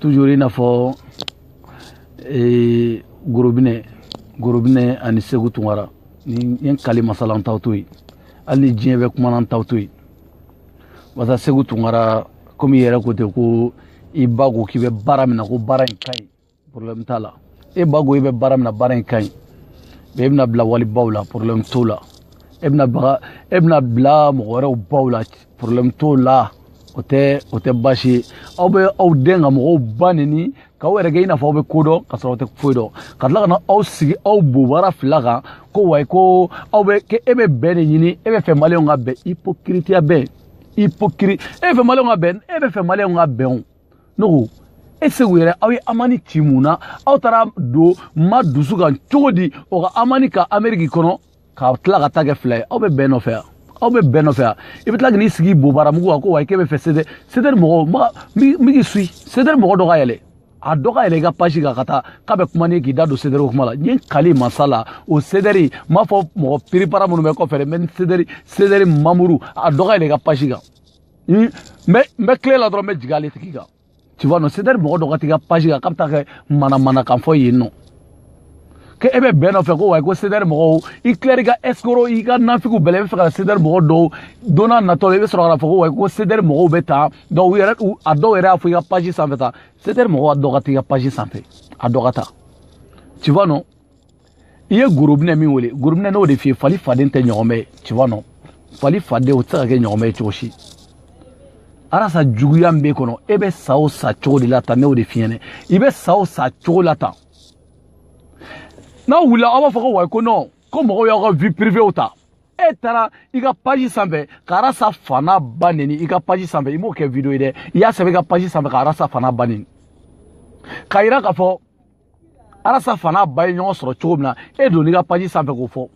toujours i n'a fɔ ee, gorobinɛ gorobinɛ ani seku tunkara n ye kali masa la n t'aw to yen hali ni diɲɛ bɛɛ kumana n t'aw to yen barisa seku tunkara komi i yɛrɛ ko ten ko i ba ko k'i bɛ baara min na ko baara in ka ɲi problème t'a la e ba ko i bɛ baara min na baara in ka ɲi mɛ e bɛna bila walibaw la problème t'o la e bɛna baga e bɛna bila mɔgɔ wɛrɛw baw la problème t'o la o tɛ o tɛ baasi ye aw bɛ aw dɛn ka mɔgɔw ba neni k'aw yɛrɛ kɛ i n'a fɔ aw bɛ ko dɔn ka sɔrɔ aw tɛ foyi dɔn ka tila ka na aw sigi aw bobara fila kan ko wayi ko aw bɛ k'e bɛ bɛn de ɲini e bɛ fɛ maliyɛnw ka bɛn ipokiritiya bɛn ipokiri e bɛ fɛ maliyɛnw ka bɛn e bɛ fɛ maliyɛnw ka bɛn o ne ko e seku yɛrɛ aw ye amani ci mun na aw taara don ma dusu kan cogo di o ka amani ka ameriki kɔnɔ ka tila ka taa kɛ fila ye aw bɛ bɛn nɔfɛ yan aw bɛ bɛn nɔfɛ yan i bɛ tila k'i sigi bobaramugu kan ko wa k'e bɛ fɛ sedɛri sedɛri mɔgɔw ma n b'i suyi sedɛri mɔgɔ dɔ ka yɛlɛ a dɔ ka yɛlɛ i ka paji kan ka taa k'a bɛ kuma ni k'i da don sedɛriw kuma la n ye kali masa la o sedɛri n b'a fɔ mɔgɔ piripara minnu bɛ kɔfɛ dɛ mɛ sedɛri sedɛri manburu a dɔ ka yɛlɛ i ka paji kan n bɛ n bɛ til'e la dɔrɔn n bɛ jigin ale tigi kan tu vois non c'est dire mɔgɔ dɔ ka t'i ka page kan k'a bɛ taa ka manamanakan fɔ yen nɔn k'e bɛ bɛn nɔfɛ ko wayi ko sedɛri mɔgɔw i tilalen i ka ɛsikoro i ka nafigiw bɛɛ la i bɛ fɛ ka sedɛri mɔgɔw dɔw don n'a natɔ la i bɛ sɔrɔ ka fɔ ko wayi ko sedɛri mɔgɔw bɛ tan dɔw yɛrɛ a dɔw yɛrɛ y'a fɔ i ka paji sanfɛ tan sedɛri mɔgɔw ka dɔ ka t'i ka paji sanfɛ a dɔ ka taa tu vois non i ye gorobinɛ min wele gorobinɛ n y'o de f'i ye fali faden tɛ ɲɔgɔmɛ ye ci wa nɔn fali faden o tɛ se ka kɛ ɲɔgɔmɛ ye cogo si arasa juguya min b'e kɔnɔ e bɛ sa o sa cogo de la tan ne y'o de f'i ɲɛ na i bɛ sa o sa cogo la tan n'aw wulila aw b'a fɔ ko wayi ko nɔn ko mɔgɔw y'aw ka vie privée ta e taara i ka paji sanfɛ ka arasa fa n'a ba neni i ka paji sanfɛ i m'o kɛ video ye dɛ i y'a sɛbɛn i ka paji sanfɛ ka arasa fa n'a ba neni k'a yira k'a fɔ arasa fa n'a ba ye ɲɔgɔn sɔrɔ cogo min na e donn'i ka paji sanfɛ k'o fɔ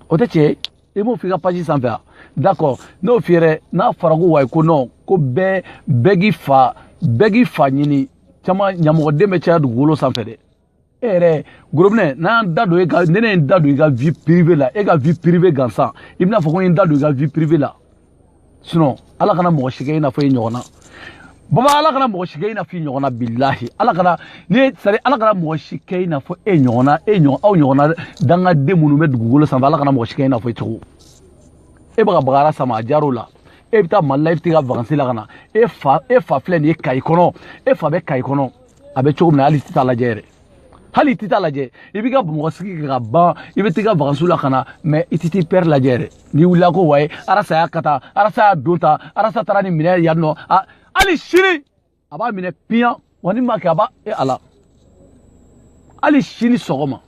o tɛ tiɲɛ ye i b'o f'i ka paji sanfɛ a d'accord n'o f'i yɛrɛ n'a fɔra ko wayi ko non ko bɛɛ bɛɛ k'i fa bɛɛ k'i fa ɲini caman ɲamɔgɔden bɛ caya dugukolo sanfɛ dɛ e yɛrɛ gorobinɛ n'an da don e ka ne ne ye n da don i ka vie privée la e ka vie privée gansan i bɛna fɔ ko n ye n da don i ka vie privée la sinon ala kana mɔgɔ si kɛ i n'a fɔ i ɲɔgɔn na baba ala kana mɔgɔ si kɛ i n'a fɔ i ɲɔgɔn na bilahi ala kana ni sari ala kana mɔgɔ si kɛ i n'a fɔ e ɲɔgɔn na e ɲɔgɔn aw ɲɔgɔn na dangaden minnu bɛ dugukolo sanfɛ ala kana mɔgɔ si kɛ i n'a fɔ i cogo e bɛ ka bagara sama a jar'o la e bɛ taa mali la e bɛ t'i ka vakansi la ka na e fa e fa filɛ nin ye kayi kɔnɔ e fa bɛ kayi kɔnɔ a bɛ cogo min na hal'i tɛ taa a lajɛ yɛrɛ hali i tɛ taa lajɛ i b'i ka bamakɔ sigi kɛ ka ban i bɛ t'i ka vakansiw la ka na mais i tɛ t'i père lajɛ dɛ n'i wulila ko waye arasa y'a kɛ tan arasa y'a don tan arasa taara ni minɛ yan nɔ hali sini a b'a minɛ piyan wa ni ma kɛ a b'a e ala hali sini sɔgɔma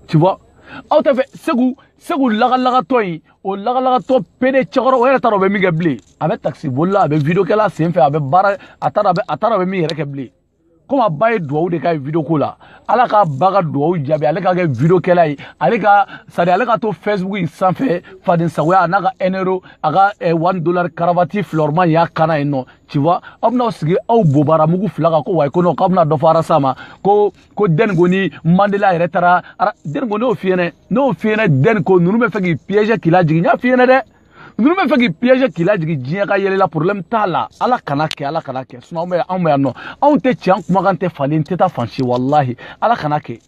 tu vois aw tɛ fɛ segu segu lagalagatɔ in o lagalagatɔ pédé cɛkɔrɔ o yɛrɛ t'a dɔn o bɛ min kɛ bilen a bɛ takisiboli la a bɛ video kɛ la senfɛ a bɛ baara a t'a dɔn a bɛ min yɛrɛ kɛ bilen komi a ba ye duwawu de k'a ye video ko la ala k'a ba ka duwawu jaabi ale ka kɛ video kɛla ye ale ka c'est-à-dire ale ka to facebook in sanfɛ faden sagoya a n'a ka un euro a ka eh, one dollar karavati filɔrima y'a kan na yen nɔ tu vois aw bɛna aw sigi aw bobara mugu fila kan ko wayi ko nɔ k'aw bɛna dɔ fɔ arasa ma ko ko dɛni ko ni mandela yɛrɛ taara dɛni ko ne y'o f'i ɲɛna ne y'o f'i ɲɛna dɛni ko ninnu bɛ fɛ k'i piéger k'i lajigin n y'a f'i ɲɛna dɛ ninnu bɛ fɛ k'i piéger k'i lajigin diɲɛ ka yɛlɛ i la problème t'a la ala kan'a kɛ ala kan'a kɛ sinon anw bɛ anw bɛ yan nɔ anw tɛ tiɲɛ an kumakan tɛ falen tɛ taa fan si walahi ala kan'a kɛ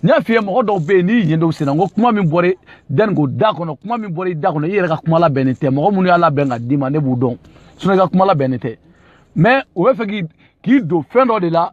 n y'a f'i ye mɔgɔ dɔw bɛ yen n'i yen dɔw senna n ko kuma min bɔra dɛni ko da kɔnɔ kuma min bɔra i da kɔnɔ i yɛrɛ ka kuma labɛnnen tɛ mɔgɔ minnu y'a labɛn ka d'i ma ne b'u dɔn sinon i ka kuma labɛnnen tɛ mais o bɛ fɛ k'i k'i don fɛn dɔ de la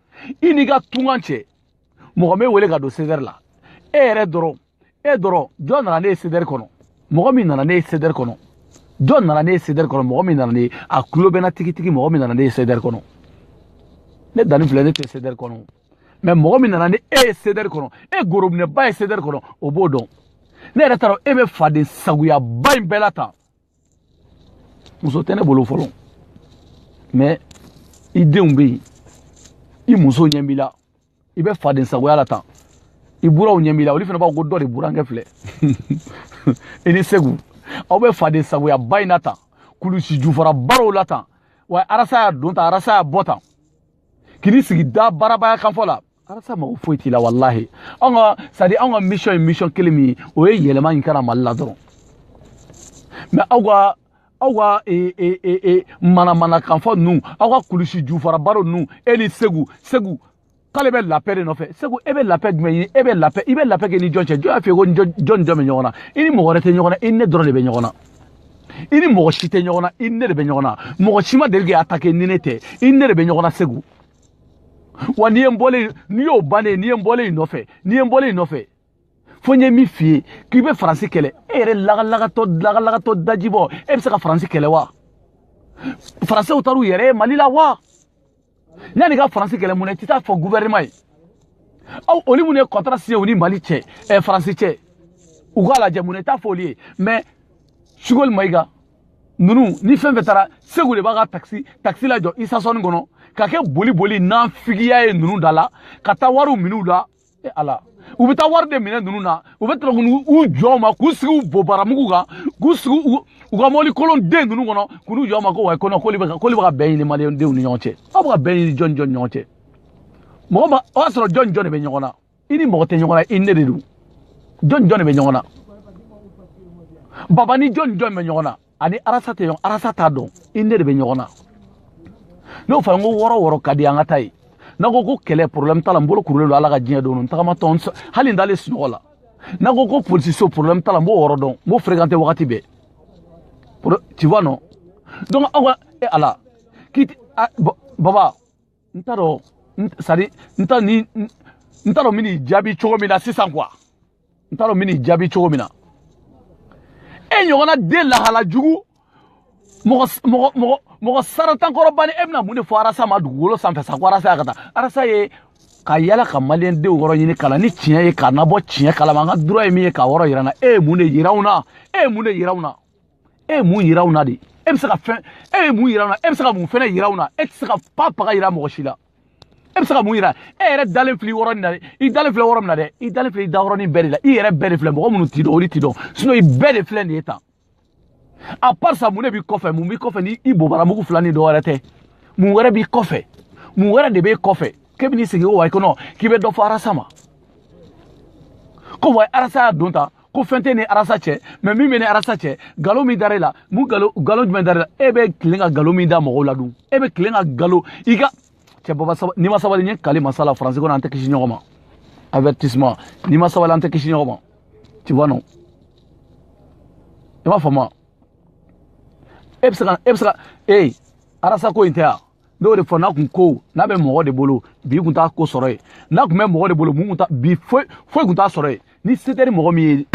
i n'i ka tunkan cɛ mɔgɔ m'e wele ka don sedɛri la e yɛrɛ dɔrɔn e dɔrɔn jɔn nana n'e ye sedɛri kɔnɔ mɔgɔ min nana n'e ye sedɛri kɔnɔ jɔn nana n'e ye sedɛri kɔnɔ mɔgɔ min nana n'e ye a kulo bɛna tigitigi mɔgɔ min nana n'e ye sedɛri kɔnɔ ne danni filɛ ne tɛ sedɛri kɔnɔ mais mɔgɔ min nana ni e ye sedɛri kɔnɔ e gorobinɛba ye sedɛri kɔnɔ o b'o dɔn ne yɛrɛ t'a dɔn e bɛ faden sagoyaba in bɛɛ la tan muso tɛ ne bolo fɔlɔ mais i denw bɛ yen i muso ɲɛ b'i la i bɛ faden sagoya la tan i buranw ɲɛ b'i la olu fana b'a fɔ ko dɔ de burankɛ filɛ i ni segu aw bɛ faden sagoyaba in na tan kulusi jufara barow la tan wa arasa y'a don tan arasa y'a bɔ tan k'i sigi dabarabaya kanfɔ la arasa mago foyi t'i la walahi anw ka c'est-à-dire anw ka mission ye mission kelen min ye o ye yɛlɛma in kɛra mali la dɔrɔn mais aw ka aw ka e, e, e, e, manamanakanfɔ ninnu aw ka kulusi jufarabaro ninnu e ni segu segu k'ale bɛ la paix de nɔfɛ segu e bɛ la paix jumɛn ɲini e bɛ la paix i bɛ la paix kɛ ni jɔn cɛ jɔn y'a f'i ye ko jɔn ni jɔn bɛ ɲɔgɔn na i ni mɔgɔ wɛrɛ tɛ ɲɔgɔn na i ni ne dɔrɔn de bɛ ɲɔgɔn na i ni mɔgɔ si tɛ ɲɔgɔn na i ni ne de bɛ ɲɔgɔn na mɔgɔ si ma deli k'i attaquer ni ne tɛ i ni ne de bɛ ɲɔgɔn na segu wa n'i ye n bɔlen n'i y'o bannen n'i ye n bɔlen y'i nɔfɛ n'i ye n bɔlen y'i nɔfɛ fo n ye min f'i ye k'i bɛ faransi kɛlɛ e yɛrɛ lagalagatɔ lagalagatɔ dajibɔ e bɛ se ka faransi kɛlɛ wa faransiw taar'u yɛrɛ ye mali la wa yann'i ka faransi kɛlɛ mun na i tɛ t'a fɔ guvɛrɛnɛman ye aw olu minnu ye kɔntara siɲɛ u ni mali cɛ ɛ faransi cɛ u k'a lajɛ mun na i t'a fɔ olu ye mais sogɛli mayiga ninnu ni fɛn fɛn taara segu de b'a ka takisi takisi lajɔ isasɔni kɔnɔ ka kɛ boli boli nafigiya ye ninnu da la ka taa wariw min'u la e ala u bɛ taa wari de minɛ ninnu na u bɛ tɛmɛ k'u u jɔ u ma k'u sigi u bobara mugu kan k'u sigi u u ka mɔbili kolon den ninnu kɔnɔ k'u n'u jɔ u ma ko wayi ko nɔn k'olu bɛ ka k'olu bɛ ka bɛn ɲini maliyɛndenw ni ɲɔgɔn cɛ aw bɛ ka bɛn ɲini jɔn ni jɔn ni ɲɔgɔn cɛ mɔgɔ ma o y'a sɔrɔ jɔn ni jɔni de bɛ ɲɔgɔn na i ni mɔgɔ tɛ ɲɔgɔn na i ni ne de don jɔn ni jɔn de bɛ ɲɔgɔn na baba ni jɔni jɔn bɛ ɲɔgɔn na a ni arasa tɛ ɲɔgɔn arasa t'a dɔn i ni ne de bɛ ɲɔgɔn na n'o fana ko yɔrɔ o yɔrɔ ka di an ka taa yen n'a ko ko kɛlɛ problème t'a la n bolo kurulen don ala ka diɲɛ don n tagamatɔ hali n dalen sunɔgɔ la n'a ko ko polisiso problème t'a la n b'o yɔrɔ dɔn n b'o fréquenté wagati bɛɛ tu vois non donc aw ka e ala k'i baba n t'a dɔn sadi n t'a ni n t'a dɔn n bɛ n'i jaabi cogo min na sisan quoi n t'a dɔn n bɛ n'i jaabi cogo min na e ɲɔgɔnna den lahala jugu mɔgɔ mɔgɔ mɔgɔ mɔgɔ sarantan kɔrɔbanin e bɛna mun de fɔ arasa ma dugukolo sanfɛ sa ko arasa y'a ka taa arasa ye ka yala ka maliyɛn denw yɔrɔ ɲini ka na ni tiɲɛ ye k'an nabɔ tiɲɛ kalama an ka droit ye min ye k'a yɔrɔ yira an na e ye mun de yira anw na e ye mun de yira anw na e ye mun yira u na de e bɛ se ka fɛn e ye mun yira u na e bɛ se ka mun fɛn de yira u na e tɛ se ka pa paga yira mɔgɔ si la e bɛ se ka mun yira e yɛrɛ dalen filɛ yɔrɔ nin na dɛ i dalen filɛ yɔrɔ min na dɛ i dalen filɛ i da yɔrɔnin bɛɛ de la i yɛrɛ bɛɛ de filɛ mɔgɔ minnu t'i dɔn olu t'i dɔn sinon i bɛɛ de filɛ nin ye tan à part ça mun de b'i kɔfɛ mun b'i kɔfɛ ni i bobara mugu fila ni dɔ wɛrɛ tɛ mun wɛrɛ b'i kɔfɛ mun wɛrɛ de b'e kɔfɛ k'e bɛ n'i sigi o wa i kɔnɔ k'i bɛ dɔ fɔ arasa ma ko wa arasa y'a don tan ko fɛn tɛ ni arasa cɛ mais min bɛ ni arasa cɛ galo min dara e la mun galo galo jumɛn dara e la e bɛ tilen ka galo min da mɔgɔw la dun e bɛ tilen ka galo i ka cɛ baba n'i ma sabali n ye n kali mansa la faransi kɔnɔ an tɛ kisi ɲɔgɔn ma avertissement n'i ma sabali an tɛ kisi ɲɔgɔn ma tu vois non i m'a faamu e bɛ se ka e bɛ se ka ee arasa ko in tɛ yan ne y'o de fɔ n'a kun ko n'a bɛ mɔgɔ de bolo bi kun t'a ko sɔrɔ yen n'a kun bɛ mɔgɔ de bolo mun kun t'a bi foyi foyi kun t'a sɔrɔ yen ni se tɛ ni mɔgɔ min ye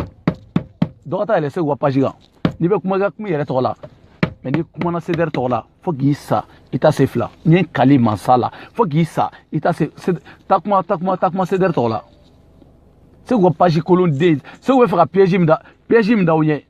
dɔ ka taa yɛlɛ segu ka page kan n'i bɛ kuma i ka kuma i yɛrɛ tɔgɔ la mais n'i kumana sedɛri tɔgɔ la fo k'i sa i tɛ se fila n ye n kali mansa la fo k'i sa i tɛ se ka kuma ka kuma ka kuma sedɛri tɔgɔ la segu ka page kolon den segu bɛ fɛ ka piège min da piège min da u ɲɛ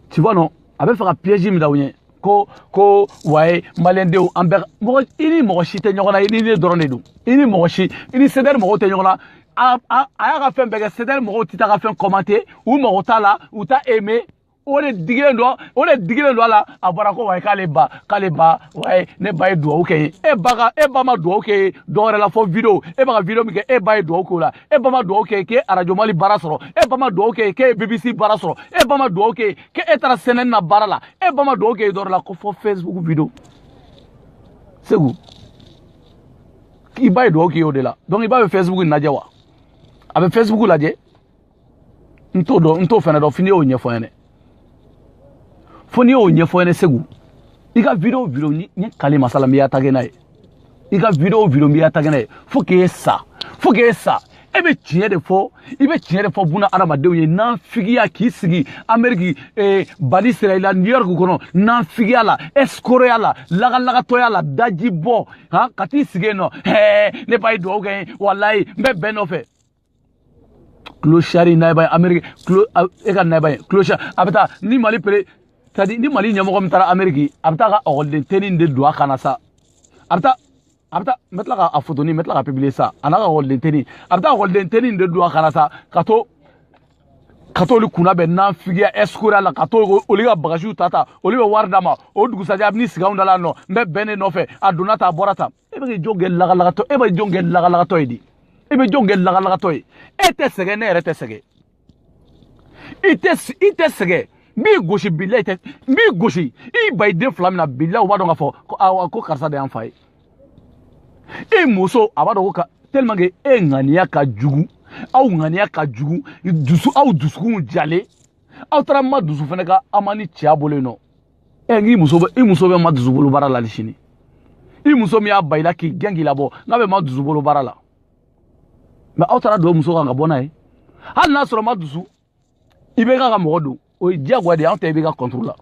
tu vois non a bɛ fɛ ka piège min da u ɲɛ ko ko wayi maliyɛndenw an bɛɛ mɔgɔ i ni mɔgɔ si tɛ ɲɔgɔn na i ni ne dɔrɔn de don i ni mɔgɔ si i ni sedɛri mɔgɔw tɛ ɲɔgɔn na a a a y'a ka fɛn bɛɛ kɛ sedɛri mɔgɔw tɛ taa ka fɛn commenté u mago t'a la u t'a aimé o de digilen don o de digilen don a la a bɔra ko wayi k'ale ba k'ale ba wayi ne ba ye duwawu kɛ n ye e ba ka e ba ma duwawu k'e ye dɔ wɛrɛ la fɔ video e bɛ ka video min kɛ e ba ye duwawu k'o la e ba ma dugawu kɛ k'e arajo mali baara sɔrɔ e ba ma dugawu kɛ k'e bbc baara sɔrɔ e ba ma dugawu kɛ k'e e taara cnn baara la e ba ma dugawu kɛ dɔwɛrɛ la ko fo facebook video seku i ba ye dugawu k'i y'o de la donc i ba bɛ facebook lajɛ wa a bɛ facebook lajɛ n t'o dɔn n t'o fɛnɛ dɔn fo n'i y'o ɲɛfɔ n ye dɛ fo n'i y'o ɲɛfɔ n ɲɛna seku i ka video video ni n ye kali masa ala n b'e attaquer n'a ye i ka video video n b'e attaquer n'a ye fo k'e sa fo k'e sa e bɛ tiɲɛ de fɔ i bɛ tiɲɛ de fɔ bunadamadenw ye naafigiya k'i sigi ameriki eh, bani israɛla new york kɔnɔ naafigiya la ɛsikoroya la lagalagatɔya la daji bɔ han ka t'i sigi yen nɔ hɛɛ ne ba ye dugawu kɛ n ye walayi n bɛ bɛn nɔfɛ tulo sari nayaba ye ameriki tulo e ka nayaba ye tulo sari a bɛ taa ni mali peresidan ni mali ɲɛmɔgɔ min taara ameriki a bɛ taa ka ɔkɔliden tɛni de don a kan na sa a bɛ taa a bɛ taa n bɛ tila ka a fotoni n bɛ tila ka pibiliye sa a n'a ka ɔkɔliden tɛni a bɛ taa ɔkɔliden tɛni de don a kan na sa ka to ka t'olu kunna yen naafigiya ɛsikoroya la ka t'olu ka bagasiw ta ta olu bɛ wari d'a ma o dugusajɛ a bɛ n'i sigi anw da la nɔ n bɛ bɛn e nɔfɛ a donna ta a bɔra ta e bɛ ka jɔn kɛ lagalagatɔ e bɛ jɔn kɛ lagalagatɔ ye de e bɛ jɔn kɛ lagalagatɔ ye e tɛ sɛgɛn ne yɛrɛ tɛ sɛgɛn i tɛ i tɛ sɛgɛn n b'i gosi bila i tɛ n b'i gosi i ba i den fila min na bila u b'a dɔn k'a fɔ ko awa ko karisa de y'an fa ye e muso a b'a dɔn ko ka tellement que e ŋaniya ka jugu aw ŋaniya ka jugu dusu aw dusukunw jalen aw taara madusu fana ka aw ma ni cɛya bolo yen nɔ ɛ k'i muso bɛ i muso bɛ madusu bolo baara la sini i muso min y'a ban i la k'i gɛn k'i labɔ n'a bɛ madusu bolo baara la mɛ aw taara don muso kan ka bɔ n'a ye hali n'a sɔrɔ madusu ibk ka mɔgɔ don o ye diyagoya de ye anw tɛ ibk kɔntoro la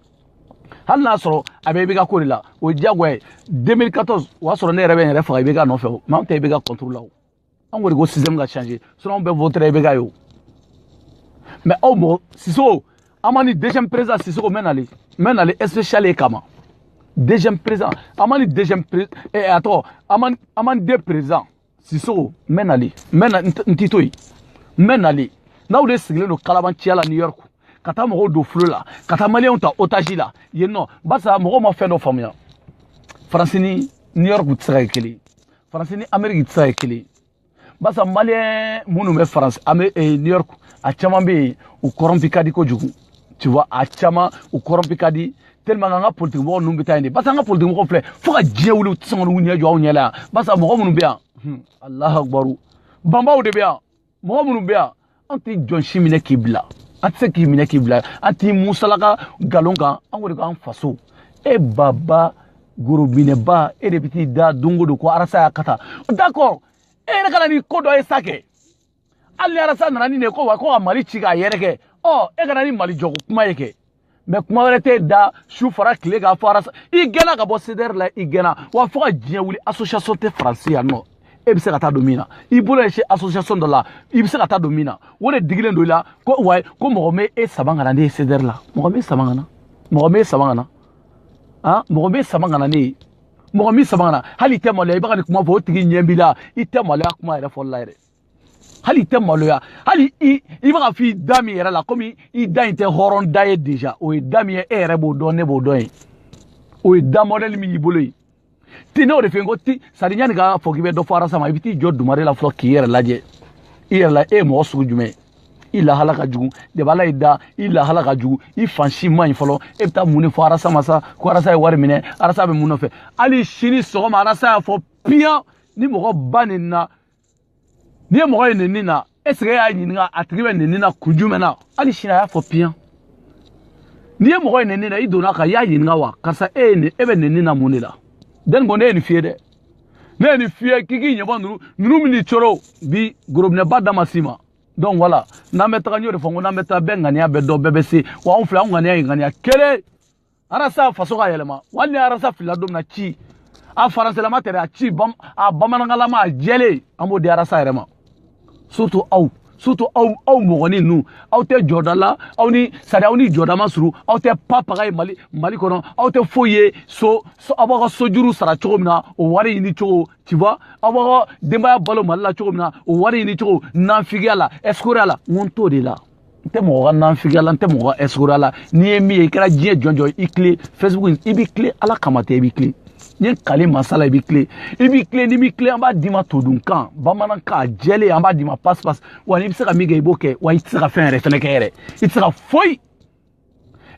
hali n'a sɔrɔ a bɛ ibk ko de la o ye diyagoya ye 2014 o y'a sɔrɔ ne yɛrɛ bɛ n yɛrɛ faga ibk nɔfɛ o mɛ anw tɛ ibk kɔntoro la o an kɔni ko système ka changer sinon anw bɛɛ votera IBK ye o mais aw mɔgɔ Sisoko an ma ni deuxième président Sisoko n bɛ nali n bɛ nali spécial e kama deuxième président an ma ni deuxième pré eh, a tɔgɔ an ma an ma ni deux président Sisoko n bɛ nali n bɛ na n t'i to yen n bɛ nali n'aw de sigilen don kalabanciya la New York ka taa mɔgɔw don fili la ka taa maliyɛnw ta otage la yen nɔ barisa mɔgɔw ma fɛn dɔ faamuya faransi ni New York tɛ se ka kɛ kelen ye faransi ni ameriki tɛ se ka kɛ kelen ye barisa maliyɛn minnu bɛ faransi an bɛ eh, new york a caman bɛ yen u kɔrɔnpi ka di kojugu tu vois a caman u kɔrɔnpi ka di tellement an ka politikimɔgɔ ninnu bɛ taa yen de barisa an ka politikimɔgɔ filɛ fo ka diɲɛ wuli u tɛ sɔn ka n'u ɲɛ jɔ anw ɲɛ la yan barisa mɔgɔ minnu bɛ yan hmm, alahu akubaru banbaw de bɛ yan mɔgɔ minnu bɛ yan an tɛ jɔn si minɛ k'i bila an tɛ se k'i minɛ k'i bila an t'i musalaka nkalon kan an ko de k'an faso e baba gorobinɛba e de bɛ t'i da don o don ko arasa y'a ka taa d'accord e yɛrɛ ka na ni ko dɔ ye sa kɛ hali ni arasa nana ni nin ye ko wa ko ka mali ci k'a yɛrɛ kɛ ɔ e ka na ni mali jɔko kuma ye kɛ mɛ kuma wɛrɛ t'e da su fara tile kan fo arasa i gɛnna ka bɔ cdr la i gɛnna wa fo ka diɲɛ wuli association tɛ faransi yan nɔ e bɛ se ka taa don min na i bolo ɲɛsin association dɔ la i bɛ se ka taa don min na o de digilen don i la ko wa ko mɔgɔ bi saba kana ne ye cdr la mɔgɔ bi saba kana mɔgɔ bi saba kana han mɔgɔ bi saba kana ne ye mɔgɔ bi saba kana hali i tɛ maloya i bɛ ka nin kuma fɔ o tigi ɲɛ b'i la i tɛ maloya kuma yɛrɛ fɔli la yɛrɛ hali i tɛ maloya hali i i bɛ k'a f'i da min yɛrɛ la komi i da in tɛ hɔrɔn da ye deja o ye da min ye e yɛrɛ b'o dɔn ne b'o dɔn ye o ye da mɔdɛli min y'i bolo ye ti ne o de fɛ yen ko ti sari yanni k'a fɔ k'i bɛ dɔ fɔ arasa ma i bɛ t'i jɔ dumare la fɔlɔ k'i yɛrɛ lajɛ i yɛrɛ la e ye mɔgɔ sugu jumɛn ye i lahala ka jugu deba ala y'i dan i lahala ka jugu i fan si man ɲi fɔlɔ e bɛ taa mun de fɔ arasa ma sa ko arasa ye wari minɛ arasa bɛ mun nɔfɛ hali sini sɔgɔma arasa y'a fɔ piyan ni mɔgɔ ba nenni na n'i ye mɔgɔ ye nenni na est ce que e y'a ɲininka a tigi bɛ nenni na kun jumɛn na hali sini a y'a fɔ piyan n'i ye mɔgɔ ye nenni na i donna a kan i y'a ɲininka wa karisa e ye nin e bɛ nenni na mun de la dɛni ko ne ye nin f'i ye dɛ ne ye nin f'i ye k'i k'i ɲɛbɔ ninnu ninnu min n'i coro bi gorobinɛba da ma s'i ma donc voilà n'an bɛ taga n y'o de fɔ n ko n'an bɛ taa bɛɛ ŋaniya bɛ dɔn bɛɛ bɛ se wa anw filɛ anw ŋaniya ye ŋaniya kelen arasa faso ka yɛlɛma wali ni arasa filila don min na ci a faransilama tɛ dɛ a ci a bamanankanlama a jɛlen an b'o di arasa yɛrɛ ma surtout aw surtout aw aw mɔgɔni ninnu aw tɛ jɔda la aw ni sari aw ni jɔda ma surun aw tɛ pa paga ye mali mali kɔnɔ aw tɛ foyi ye fo aw b'aw ka sojuru sara cogo min na o wari ɲini cogo tu vois aw b'aw ka denbaya balo mali la cogo min na o wari ɲini cogo nanfigiya la ɛsikoroya la n ko n t'o de la n tɛ mɔgɔ ka nanfigiya la n tɛ mɔgɔ ka ɛsikoroya la n'i ye min ye i kɛra diɲɛ jɔn jɔn i tilen facebook i b'i tilen ala kama tɛ i b'i tilen n ye kale masa la i b'i tilen i b'i tilen n'i b'i tilen an b'a d'i ma todunkan bamanankan a jɛlen an b'a d'i ma pasi pasi wa n'i bɛ se ka min kɛ i b'o kɛ wa i tɛ se ka fɛn yɛrɛ fɛnɛ kɛ yɛrɛ i tɛ se ka foyi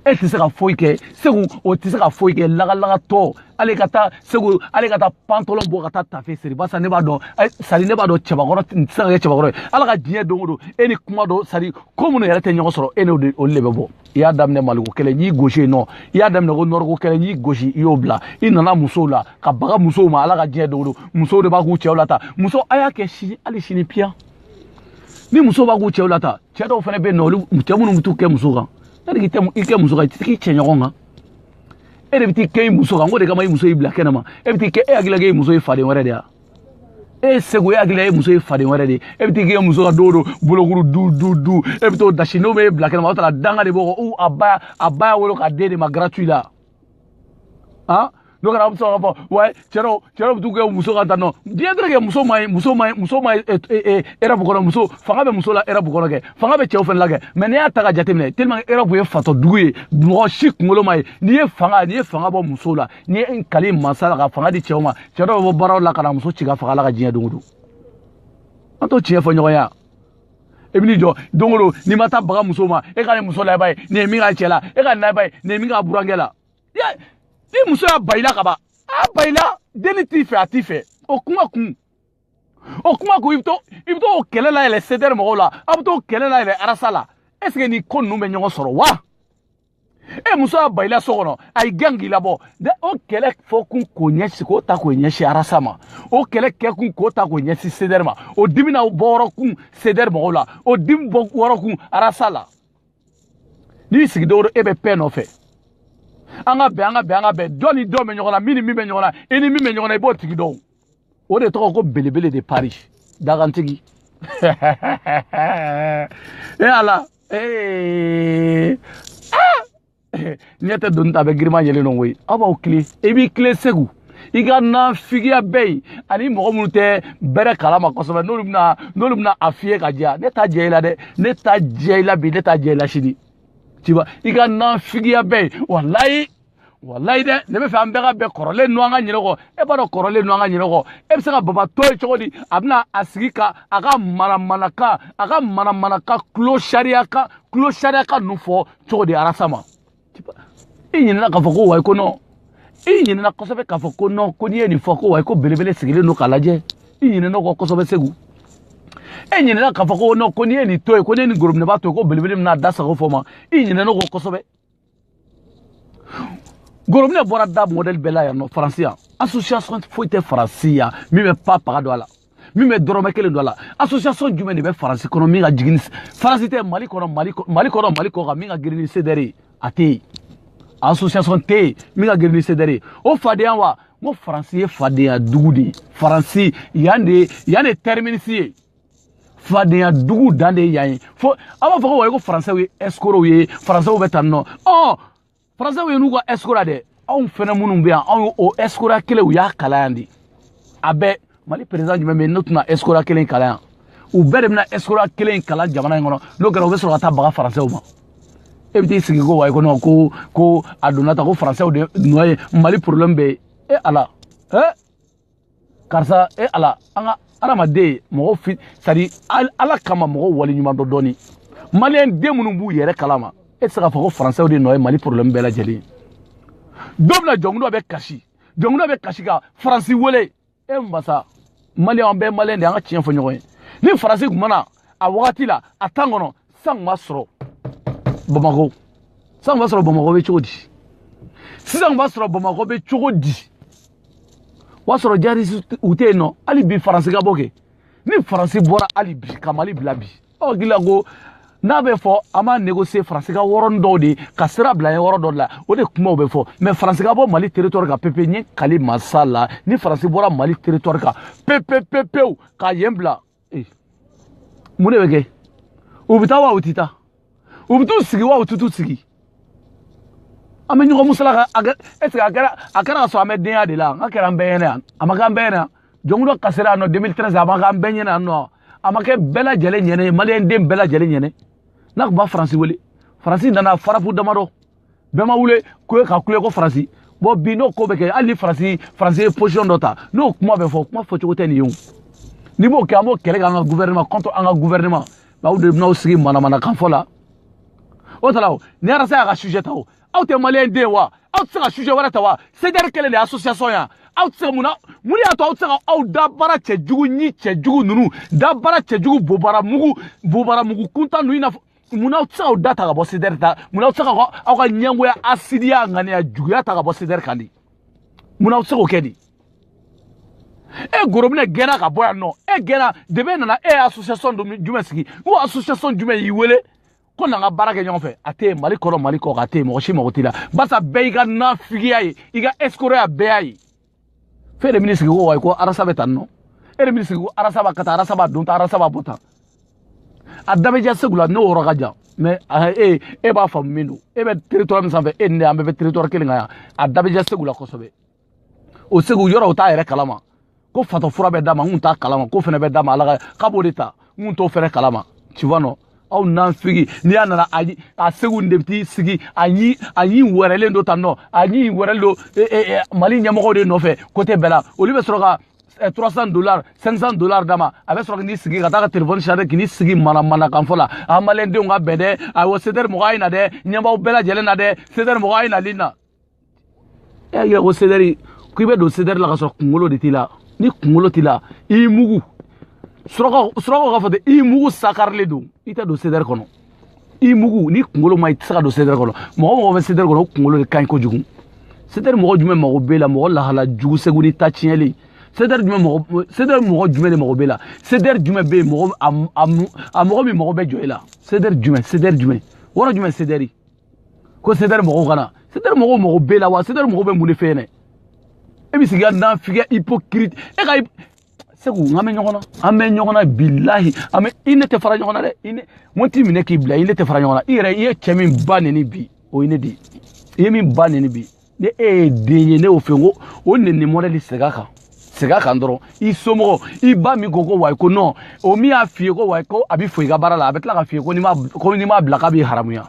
e tɛ se ka foyi kɛ segu o tɛ se ka foyi kɛ lagalagatɔ ale ka taa segu ale ka taa pantɔlɔn bɔ ka taa tafe siri barisa ne b'a dɔn sari ne b'a dɔn cɛbakɔrɔ tɛ se ka kɛ cɛbakɔrɔ ye ala ka diɲɛ don o don e ni kuma dɔ sari ko minnu yɛrɛ tɛ ɲɔgɔn sɔrɔ e n'o de olu de bɛ bɔ i y'a daminɛ maliko kɛlɛ n'i gosi yen nɔ i y'a daminɛ ko nɔrɔko kɛlɛ n'i gosi i y'o bila i nana musow la ka baga musow ma ala ka diɲɛ don o don musow de b'a k'u cɛw la ta muso a y'a kɛ sini hali sini piyan ni muso b'a k'u cɛw la ta cɛ dɔw fana bɛ yen nɔ olu cɛ minnu bɛ t'u kɛ muso kan yanni k'i tɛ i kɛ muso kan i tɛ k'i cɛ ɲɔgɔn kan e de bɛ t'i kɛ i muso kan k'o de kama i muso y'i bila kɛnɛ ma e bɛ t'i kɛ e hakilila k'e muso ye faden wɛrɛ de ye e ye segu e hakilila e muso ye faden wɛrɛ de ye e bɛ t'i k'e muso kan don o don bolokuru du du du e bɛ t'o dasi n'o bɛ e bila kɛnɛ ma o t'a la danga de b'o kɔ a ba a ba y'a wolo k'a d'e de ma gratuit la ah n'o kɛra a bɛ sɔrɔ ka fɔ wa cɛ dɔ cɛ dɔ bɛ t'u kɛ muso ka dan nɔ diɲɛ tɛ kɛ muso man ɲi muso man ɲi muso man ɲi erɔpu eh, kɔnɔ eh, eh, muso fanga bɛ muso la erɔpu kɔnɔ kɛ fanga bɛ cɛw fana la kɛ mɛ n'i y'a ta k'a jateminɛ teliman erɔpu ye fatɔ dugu ye mɔgɔ si kunkolo man ɲi n'i ye fanga n'i ye fanga bɔ muso la ne ye n kali mansa la ka fanga di cɛw ma cɛ dɔ bɛ bɔ baaraw la ka na muso ci k'a faga ala ka diɲɛ don o don an t'o tiɲɛ fɔ ɲɔgɔn ye yan e bɛ n'i jɔ don o don n'i ma taa baga muso ma e ka nin muso layɛba ye nin ye min k'a cɛ la e ka nin layɛba ye nin ye min k'a burankɛ la i muso y'a ban i la ka ban a ban i la denni t'i fɛ a t'i fɛ o kuma kun o kuma kun i bɛ to i bɛ to o kɛlɛ layɛlɛ sedɛri mɔgɔw la aw bɛ to o kɛlɛ layɛlɛ arasa la est ce que nin ko ninnu bɛ ɲɔgɔn sɔrɔ wa. e muso y'a ban i la so kɔnɔ a y'i gɛn k'i labɔ de o kɛlɛ fɔkun k'o ɲɛsi k'o ta k'o ɲɛsi arasa ma o kɛlɛ kɛkun k'o ta k'o ɲɛsi sedɛri ma o dimi na bɔ yɔrɔ kun sedɛri mɔgɔw la o dimi bɔ yɔrɔ kun arasa la n'i sigilen don e bɛ paix nɔfɛ an ka bɛn an ka bɛn an ka bɛn jɔn ni jɔn bɛ ɲɔgɔn na min ni min bɛ ɲɔgɔn na i ni min bɛ ɲɔgɔn na i b'o tigi dɔn o de tɔgɔ ko belebele de paris dakantigi e ala ee ɲɛ tɛ doni ta a bɛ girinman yɛrɛ dɔn koyi aw b'aw kile i b'i kile segu i ka nafigiya bɛ ye ani mɔgɔ minnu tɛ bɛrɛ kalama kosɛbɛ n'olu bɛna n'olu bɛna a fiyɛ k'a jɛya ne t'a jɛ i la dɛ ne t'a jɛ i la bi ne t'a jɛ i la sini tiba i ka nafigiya bɛ ye walayi walayi dɛ ne b'a fɛ an bɛɛ ka bɛn kɔrɔlen nu an ka ɲinɛ kɔ e b'a dɔn kɔrɔlen nu an ka ɲinɛ kɔ e bɛ se ka baba to yen cogo di a bɛna a sigi ka a ka manamanakan a ka manamanakan tulo sariya kan tulo sariya kan ninnu fɔ cogo di arasa ma i ɲinɛna k'a fɔ ko wayi ko nɔn i ɲinɛna kosɛbɛ k'a fɔ ko nɔn ko n'i ye nin fɔ ko wayi ko belebele sigilen don k'a lajɛ i ɲinɛn'a kɔ kosɛbɛ segu e ɲinɛna k'a fɔ ko nɔn ko n'i ye nin to yen ko n'i ye nin gorobinɛba to yen ko belebele bɛna a da sago fɔ a ma i ɲinɛn'a kɔ kosɛbɛ gorobinɛ bɔra da mɔdɛli bɛɛ la yan nɔ faransi yan association foyi tɛ faransi yan min bɛ pa paga don a la min bɛ dɔrɔmɛ kelen don a la association jumɛn de bɛ faransi kɔnɔ min ka girin faransi tɛ mali kɔnɔ mali kɔnɔ mali kɔ kan min ka girin ni sedɛri ye a tɛ yen association tɛ yen min ka girin ni sedɛri ye o fadenya wa n ko faransi ye fadenya dugu de ye faransi yan de yan de tɛriminisi ye fadenya dugu dan de ye yan ye fo an b'a fɔ ko wayi ko faransɛw ye ɛsikorow ye faransɛw bɛ tan nɔ ɔ faransɛw ye n'u ka ɛsikoroya dɛ anw fɛnɛ minnu bɛ yan anw ye o ɛsikoroya kelen u y'a kalan yan de a bɛɛ mali perezidan jumɛn bɛ yen n'o tɛna ɛsikoroya kelen kalan yan u bɛɛ de bɛna ɛsikoroya kelen kalan jamana in kɔnɔ n'o kɛra u bɛ sɔrɔ ka taa baga faransɛw ma e bɛ t'i sigi ko wayi ko nɔn ko ko a donna tan ko faransɛw de nɔ ye mali porobilɛmu bɛɛ ye e ala e karisa e ala an ka adamaden mɔgɔ fi sadi ala kama mɔgɔ wale ɲuman dɔn dɔɔni maliyɛn den minnu b'u yɛrɛ kalama e tɛ se k'a fɔ ko faransɛw de nɔ ye mali porobilɛmu bɛɛ lajɛlen don min na jɔnkunda bɛ kasi jɔnkunda bɛ kasi ka faransi wele e masa maliyɛn an bɛɛ maliyɛn de an ka tiɲɛ fɔ ɲɔgɔn ye ni faransi tun ma na a wagati la a tan kɔnɔ san kun b'a sɔrɔ bamakɔ san kun b'a sɔrɔ bamakɔ bɛ cogo di sisan kun b'a sɔrɔ bamakɔ bɛ cogo di o y'a sɔrɔ jihadisiw tɛ yen nɔ hali bi faransi ka bɔ kɛ ni faransi bɔra hali bi ka mali bila bi ɔ gila ko n'a bɛ fɔ an b'a négocier faransi ka yɔrɔnin dɔw de ka sira bila ye yɔrɔ dɔ de la o de kumaw bɛ fɔ mais faransi ka bɔ mali territoire kan pepe n ye kali masa la ni faransi bɔra mali territoire kan pepepepew ka yen bila mun de bɛ kɛ u bɛ taa wa u tɛ taa u bɛ t'u sigi wa u tɛ t'u sigi an bɛ ɲɔgɔn musalaka a kɛ ɛseke a kɛra a kɛra ka sɔrɔ an bɛ denya de la nka a kɛra an bɛɛ ɲɛna yan a ma kɛ an bɛɛ ɲɛna jɔnkunda kasira yan nɔ 2013 a ma kɛ an bɛɛ ɲɛna yan nɔ a ma kɛ bɛɛ lajɛlen ɲɛna ye maliyɛn den bɛɛ lajɛlen ɲɛna n'a tun bɛ faransi wele faransi nana frappe damadɔ bɛɛ ma wuli ko ka kule ko faransi bɔ bi n'o ko bɛ kɛ hali ni faransi faransi ye position dɔ ta n'o kuma bɛ fɔ kuma fɔcogo tɛ nin ye o n'i b'o kɛ an b'o kɛlɛ kɛ an ka gouvernement contre an ka gouvernement aw de bɛn'aw sigi manamanakan fɔ la o tala o ni arasa y'a ka sujet ta o aw tɛ maliyɛn den wa aw tɛ se ka sujet wɛrɛ ta wa sedɛri kelen de ye association yan aw tɛ se ka mun na mun de y'a to aw tɛ se ka aw dabara cɛjugu ni cɛjugu ninnu dabara cɛjugu bobara mugu bobara mugu kuntan ninnu i n'a fɔ mun aw tɛ se k'aw da ta ka bɔ sedɛri ta mun aw tɛ se ka aw ka ɲɛngoya hasidiya ŋaniya juguya ta ka bɔ sedɛri kan di mun aw tɛ se k'o kɛ di e gorobinɛ gɛnna ka bɔ yan nɔ e gɛnna debe nana e ye association jumɛn sigi ko association jumɛn y'i wele ko na an ka baara kɛ ɲɔgɔn fɛ a tɛ yen mali kɔnɔ mali kɔ a tɛ yen mɔgɔ si mago t'i la barisa bɛɛ y'i ka nafigiya ye i ka ɛsikoroya bɛɛ y'a ye fo e de bɛn'i sigi ko wayi ko arasa bɛ tan nɔ e de bɛn'i sigi ko arasa b'a kɛ tan arasa b'a don tan arasa b'a bɔ tan a da bɛ ja segu la n'o yɔrɔ ka jan mɛ e e b'a faamu min don e bɛ territoire min sanfɛ e ni ne an bɛɛ bɛ territoire kelen kan yan a da bɛ ja segu la kosɛbɛ o segu yɔrɔ o t'a yɛrɛ kalama ko fatɔ fura bɛ d'a ma n kun t'a kalama ko fɛnɛ bɛ d'a ma ala ka k'a b'o de ta n kun t'o fɛnɛ kalama tu vois nɔ aw nafigi n'i y'a nana a segu de bɛ sigi a ɲi a ɲi wɛrɛlen don tan nɔ a ɲi wɛrɛlen don e, e, e, mali ɲɛmɔgɔw de nɔfɛ kote bɛɛ la olu bɛ sɔrɔ ka 300 dollars 500 dollars d'a ma a bɛ sɔrɔ k'i sigi ka taa ka telefɔni charger k'i sigi manamanakan fɔ la an maliyɛndenw ka bɛn dɛ awɔ sedɛri mɔgɔ a ye na dɛ ɲɛmaaw bɛɛ lajɛlen na dɛ sedɛri mɔgɔ a ye nali na e y'a yira ko sedɛri ko i bɛ don sedɛri la ka sɔrɔ kunkolo de t'i la ni kunkolo t'i la i y'i mugu surakaw surakaw k'a fɔ ten i mugu sakarilen don i tɛ don sedɛri kɔnɔ i mugu ni kunkolo ma i tɛ se ka don sedɛri kɔnɔ mɔgɔ mɔgɔ bɛ sedɛri kɔnɔ o kunkolo de ka ɲi kojugu sedɛri mɔgɔ jumɛn mago b'e la mɔgɔ lahala jugu segu ni ta tiɲɛlen sedɛri jumɛn mɔgɔ sedɛri mɔgɔ jumɛn de mago b'e la sedɛri jumɛn bɛ yen mɔgɔ a mɔgɔ min mago bɛ jɔ e la sedɛri jumɛn sedɛri jumɛn wɔrɔ jumɛn sedɛri ko sedɛri mɔgɔw ka na sedɛri mɔgɔw mago b'e la wa sedɛri mɔgɔw bɛ mun de fɛ yen dɛ e bɛ sigi ka nafigi hypocrite e segu an bɛ ɲɔgɔn na an bɛ ɲɔgɔn na bilahi an bɛ i ne tɛ fara ɲɔgɔn na dɛ i ne n t'i minɛ k'i bila i ne tɛ fara ɲɔgɔn na i yɛrɛ i ye cɛ min ba neni bi o ye ne de ye i ye min ba neni bi ni e ye den ye ne y'o fɛ ko o neni mɔdɛli sɛgɛ kan sɛgɛ kan dɔrɔn i somɔgɔ i ba min ko ko wayi ko nɔn o min y'a f'i ye ko wayi ko a bɛ fɔ i ka baara la a bɛ tila k'a f'i ye ko n'i ma ko n'i m'a bila k'a b'i haramuya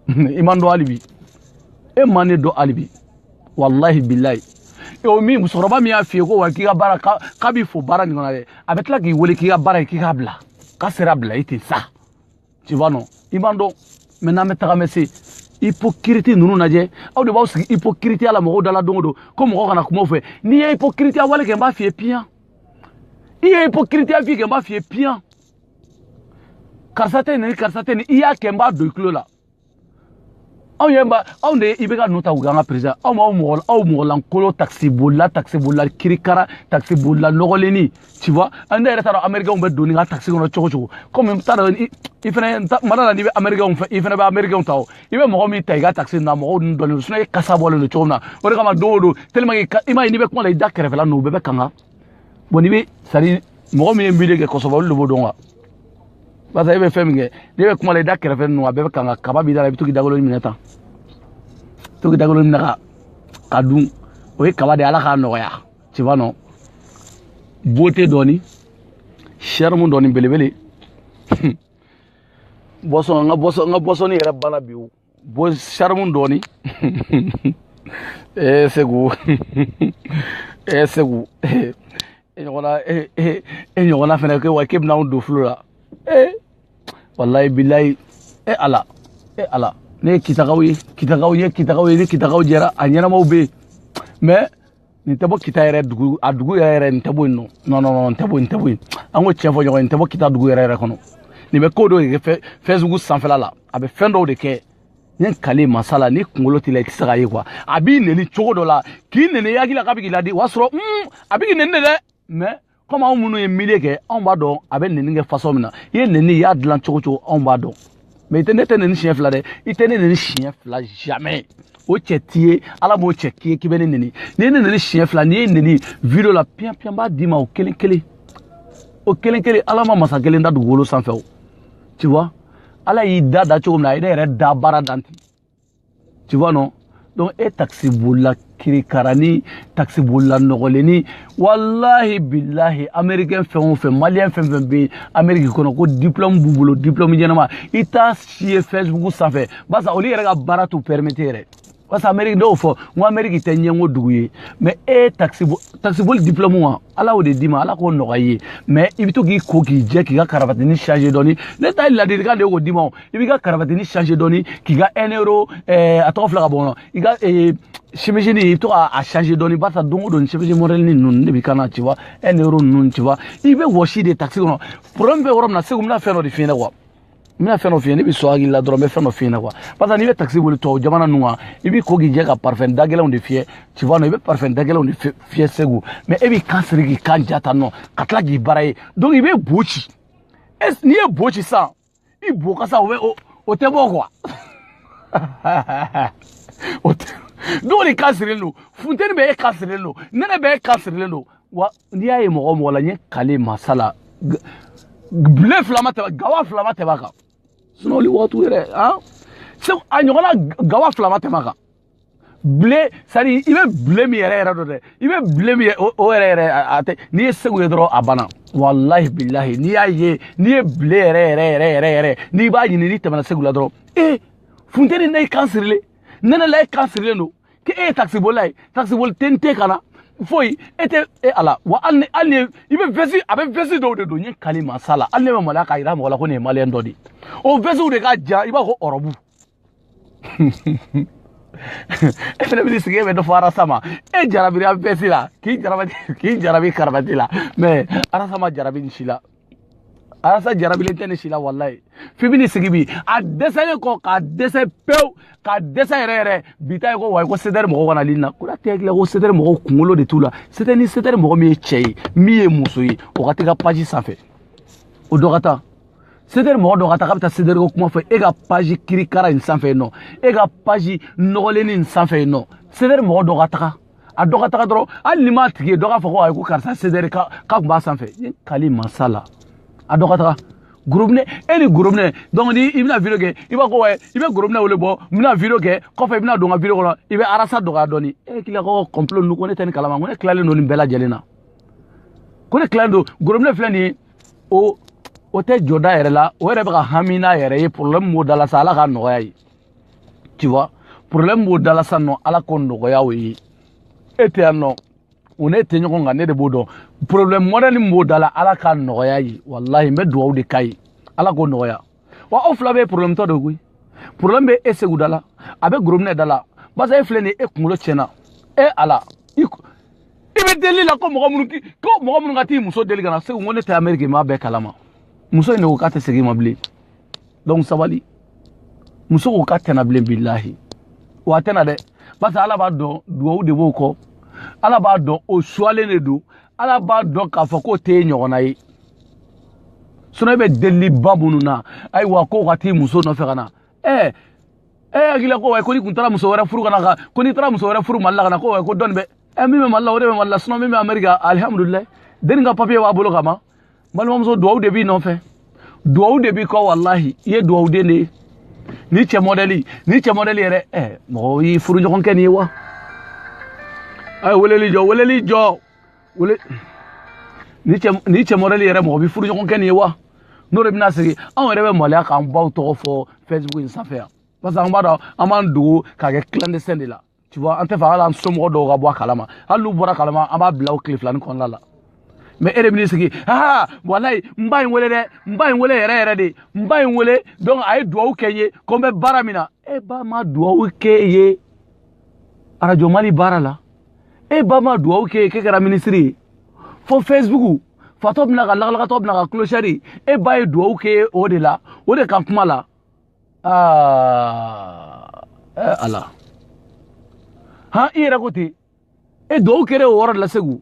i ma n dɔn hali bi e ma ne dɔn hali bi walahi bilayi o min musokɔrɔba min y'a f'i ye ko wayi k'i ka baara k'a b'i fo baara nin kɔnɔ dɛ a bɛ tila k'i wele k'i ka baara ye k'i k'a bila k'a sera bila i ten sa tu vois non i ma n dɔn mais n'an bɛ tagamɛ se hypocrite ninnu lajɛ aw de b'aw sigi hypocriteya la mɔgɔw dala don o don ko mɔgɔ kana kuma o fɛ n'i ye hypocriteya wale kɛ n b'a f'i ye piyan i ye hypocriteya fɛn kɛ n b'a f'i ye piyan karisa tɛ nin karisa tɛ nin i y'a kɛ n b'a don i tulo la aw yɛrɛ ba aw de i bɛ ka ninnu ta k'u kɛ an ka perezidan aw ma aw mɔgɔ aw mɔgɔlankolon takisibolila takisibolila kirikara takisibolila nɔgɔlennin tu vois ne yɛrɛ t'a dɔn amerikɛnw bɛ don nin ka takisi kɔnɔ cogo cogo komi n t'a dɔn i fɛnɛ mara la n'i bɛ amerikɛnw fɛ i fɛnɛ bɛ amerikɛnw ta o i bɛ mɔgɔ min ta i ka takisi na mɔgɔw ninnu dɔnnen don sinɔn e kasa bɔlen don cogo min na o de kama don o don tellement que i m'a ye n'i bɛ kuma la i da kɛrɛfɛla ninnu u bɛɛ bɛ kanga bon n'i bɛ sari mɔgɔ min ye miiri kɛ kosɛbɛ olu de b'o dɔn wa barisa e bɛ fɛn min kɛ n'e bɛ kuma la i da kɛrɛfɛ ninnu a bɛɛ bɛ kanga kaba b'i da la i bɛ to k'i dagolo minɛ tan to k'i dagolo minɛ ka k'a dun o ye kaba de ye ala k'a nɔgɔya tu vois non beauté dɔɔni charme dɔɔni belebele bɔsɔn n ka bɔsɔn n ka bɔsɔnni yɛrɛ banna bi o bon charme dɔɔni ee segu ee segu e ɲɔgɔnna e ɲɔgɔnna fɛnɛ kɛ wa k'e bɛna anw don flou la ee walayi bilayi e ala e ala ne ye kitaka ye kitaka ye kitaka ye ni kitakaw jɛra a ɲɛnamaw bɛ yen mais nin tɛ bɔ kita yɛrɛ dugu a dugu yɛrɛ yɛrɛ nin tɛ bɔ yen non non non non nin tɛ bɔ nin tɛ bɔ yen an k'o tiɲɛ fɔ ɲɔgɔn ye nin tɛ bɔ kita dugu yɛrɛ yɛrɛ kɔnɔ nin bɛ ko dɔw de kɛ facebook sanfɛla la a bɛ fɛn dɔw de kɛ ne kale masa la ni kunkolo t'i la i tɛ se k'a ye quoi a b'i neni cogo dɔ la k'i neni i hakili la k'a bɛ k'i ladi o y'a sɔrɔ a bɛ k'i neni de dɛ mɛ komi anw minnu ye milieu kɛ anw b'a dɔn a bɛ nɛni kɛ fasɔn min na i ye nɛni i y'a dilan cogo cogo anw b'a dɔn mais i tɛ ne tɛ nɛni siɲɛ fila dɛ i tɛ ne nɛni siɲɛ fila jamais o cɛ t'i ye ala m'o cɛ k'i ye k'i bɛ ne nɛni n'i ye ne nɛni siɲɛ fila n'i ye nɛni video la piyan piyan b'a d'i ma o kelen kelen o kelen kelen ala ma masa kelen da dugukolo sanfɛ o tu vois ala y'i da da cogo min na a ye ne yɛrɛ da baara dan ten tu vois non donc e takisi bolila kirikara ni takisi bolila nɔgɔlen ni walahi bilahi américain fɛn o fɛn maliyɛn fɛn o fɛn bɛ amérique kɔnɔ ko diplôme b'u bolo diplôme ɲɛnama i t'a si ye facebook sanfɛ barisa olu yɛrɛ ka baara t'u permettre yɛrɛ parce que amérique dɔw fɔ n ko amérique tɛ ɲɛngo dugu ye mais e takisiboli diplôme wa ala y'o de d'i ma ala k'o nɔgɔya i ye mais i bɛ to k'i ko k'i jɛ k'i ka karabatini changer dɔɔni ne ta ye ladilikan de ye k'o d'i ma i b'i ka karabatini changer dɔɔni k'i ka ɛnɛro eh, a tɔgɔ fila ka bɔ kɔnɔ i ka chemisini eh, i bɛ to ka a changer dɔɔni barisa don o don chemisi mɔdɛlini ninnu de b'i kan na ci wa ɛnɛro ninnu ci wa i bɛ wɔsi de takisi kɔnɔ problème bɛ yɔrɔ min na segu n bɛna fɛn dɔ de f'i ɲɛna quoi n bɛna fɛn dɔ f'i ye ne b'i sɔn hakili la dɔrɔn n bɛ fɛn dɔ f'i ɲɛna quoi barisa n'i bɛ takisi boli tubabu jamana ninnu kan i b'i ko k'i jɛ ka parifɛn da gɛlɛnw de fiyɛ tu vois non i bɛ parifɛn da gɛlɛnw de fiyɛ segu mais e b'i kan siri k'i kan ja tan non ka tila k'i baara ye donc i bɛ bo ci n'i ye bo ci sisan i bo kasa o bɛ o o tɛ bɔ quoi o tɛ dɔw de kan sirilen don funteni bɛ e kan sirilen don nɛnɛ bɛ e kan sirilen don wa n'i y'a ye mɔgɔ mɔgɔ la n ye kale masa la bile fila ma tɛmɛ gawa fila ma tɛmɛ a kan sinon olu waatiw yɛrɛ han segu a ɲɔgɔnna gawa fila ma tɛmɛ a kan bile sani i bɛ bile min yɛrɛ yɛrɛ dɔn dɛ i bɛ bile min o yɛrɛ yɛrɛ a tɛ n'i ye segu ye dɔrɔn a banna walahi bilahi n'i y'a ye n'i ye bile yɛrɛ yɛrɛ yɛrɛ yɛrɛ yɛrɛ n'i b'a ɲini n'i tɛmɛna segu la dɔrɔn ee funteni na e kan sirilen nɛnɛ la e kan sirilen don k'e ye takisibolila ye takisiboli tɛ n tɛ ka na foyi e tɛ e ala wa hali ni hali ni i bɛ vɛsi a bɛ vɛsi dɔw de don n ye kali masa la hali ne bɛ maloya k'a jira mɔgɔ la ko nin ye maliyɛn dɔ de ye o vɛsiw de ka jan i b'a fɔ ɔrɔbu e fana bɛ sigi e bɛ dɔ fɔ arasama e jarabi an bɛɛ si la k'i jarabi k'i jarabi karabati la mais arasama jarabi nin si la arasa jarabilen tɛ nin si la walayi f'i bɛ nin sigi bi a dɛsɛlen kɔ k'a dɛsɛ pewu k'a dɛsɛ yɛrɛ yɛrɛ bi ta ye ko wayi ko sedɛri mɔgɔw kana lili na ko n'a tɛ ko sedɛri mɔgɔw kunkolo de t'u la sedɛri ni sedɛri mɔgɔ min ye cɛ ye min ye muso ye o ka t'i ka paji sanfɛ o dɔ ka taa sedɛri mɔgɔ dɔ ka taa k'a bɛ taa sedɛri ko kuma fɔ e ka paji kirikara in sanfɛ yen nɔ e ka paji nɔgɔlenni in sanfɛ yen nɔ sedɛri mɔgɔ dɔ ka taga a dɔ ka taga dɔrɔn hali ni m'a tigi ye dɔ k'a fɔ ko ayi ko karisa sedɛri k'a tun b'a sanfɛ n kali masa la a dɔ ka taga gorobinɛ e ni gorobinɛ donc ni i bɛna video kɛ i b'a ko wɛ i bɛ gorobinɛ wele bon n bɛna video kɛ kɔfɛ i bɛna don n ka video kɔnɔ i bɛ arasa dɔgɔya dɔɔni e k'i ka ko complot ninnu ko ne tɛ nin kalama ko ne tilalen don nin bɛɛ lajɛlen na ko ne tilalen don gorobinɛ filɛ nin ye o o tɛ jɔ da yɛrɛ la o yɛrɛ bɛ ka hami n'a yɛrɛ ye problème b'o da la sa ala k'a nɔgɔya a ye tu vois problème b'o da la sa nɔ ala k'o nɔgɔya o ye e tɛ yan nɔ o ne tɛ ɲɔgɔn kan ne de b'o dɔn problème modèle min b'o da la ala k'a nɔgɔya a ye walahi n bɛ dugawu de k'a ye ala k'o nɔgɔya wa aw fila bɛ problème tɔ de koyi problème bɛ e segu da la a bɛ gorobinɛ da la basa e filɛ nin ye e kunkolo tiɲɛna e ala i i bɛ deli la ko mɔgɔ minnu ko mɔgɔ minnu ka t'i muso deli ka na segu ko ne tɛ ameriki n b'a bɛɛ kalama muso in de ko k'a tɛ segin ma bilen donc sabali muso ko k'a tɛ na bilen bilahi wa a tɛ na dɛ parce que ala b'a dɔn dugawu de b'o kɔ ala b'a dɔn o suwalen de don ala b'a dɔn k'a fɔ k'o t'e ɲɔgɔnna ye sinɔn e bɛ deliliba minnu na ayiwa k'o ka t'i muso nɔfɛ ka na ɛɛ ɛɛ hakili la ko wayi ko n'i tun taara muso wɛrɛ furu ka na ka ko n'i taara muso wɛrɛ furu mali la ka na ko wayi ko denni bɛ ɛ min bɛ mali la o de bɛ mali la sinɔn min bɛ ameriki alihamudulilayi denni ka papiye b'a bolo ka ban balimamuso duwawu de b'i nɔfɛ duwawu de b'i kɔ walahi i ye duwawuden de ye nin cɛ mɔdɛli nin cɛ mɔdɛli yɛrɛ ɛ mɔgɔ b'i furuɲɔgɔn kɛ nin ye wa a ye weleli jɔ weleli jɔ wele nin cɛ nin cɛ mɔdɛli yɛrɛ mɔgɔ b'i furuɲɔgɔn kɛ nin ye wa n'o de bɛna sigi anw yɛrɛ bɛ maloya k'an baw tɔgɔ fɔ facebook in sanfɛ yan parce que an b'a dɔn an b'an dogo k'a kɛ clandestin de la tu vois an t'a fɛ hali an somɔgɔ dɔw ka bɔ a kalama hali n'u bɔra a kalama an b'a bila o tile filani kɔnɔna la mɛ e de bɛ n'i sigi aa walayi n ba in wele dɛ n ba in wele yɛrɛ yɛrɛ de n ba in wele donc a ye duwawu kɛ n ye ko n bɛ baara min na e ba ma duwawu kɛ i ye arajo mali baara la e ba ma duwawu kɛ i ye k'e kɛra minisiri ye fo facebook fatɔ bɛna ka lagalagatɔ bɛna ka kulosɛri e ba ye duwawu kɛ o de la o de ka kuma la aa ala han i yɛrɛ ko ten e duwawu kɛra o yɔrɔ de la segu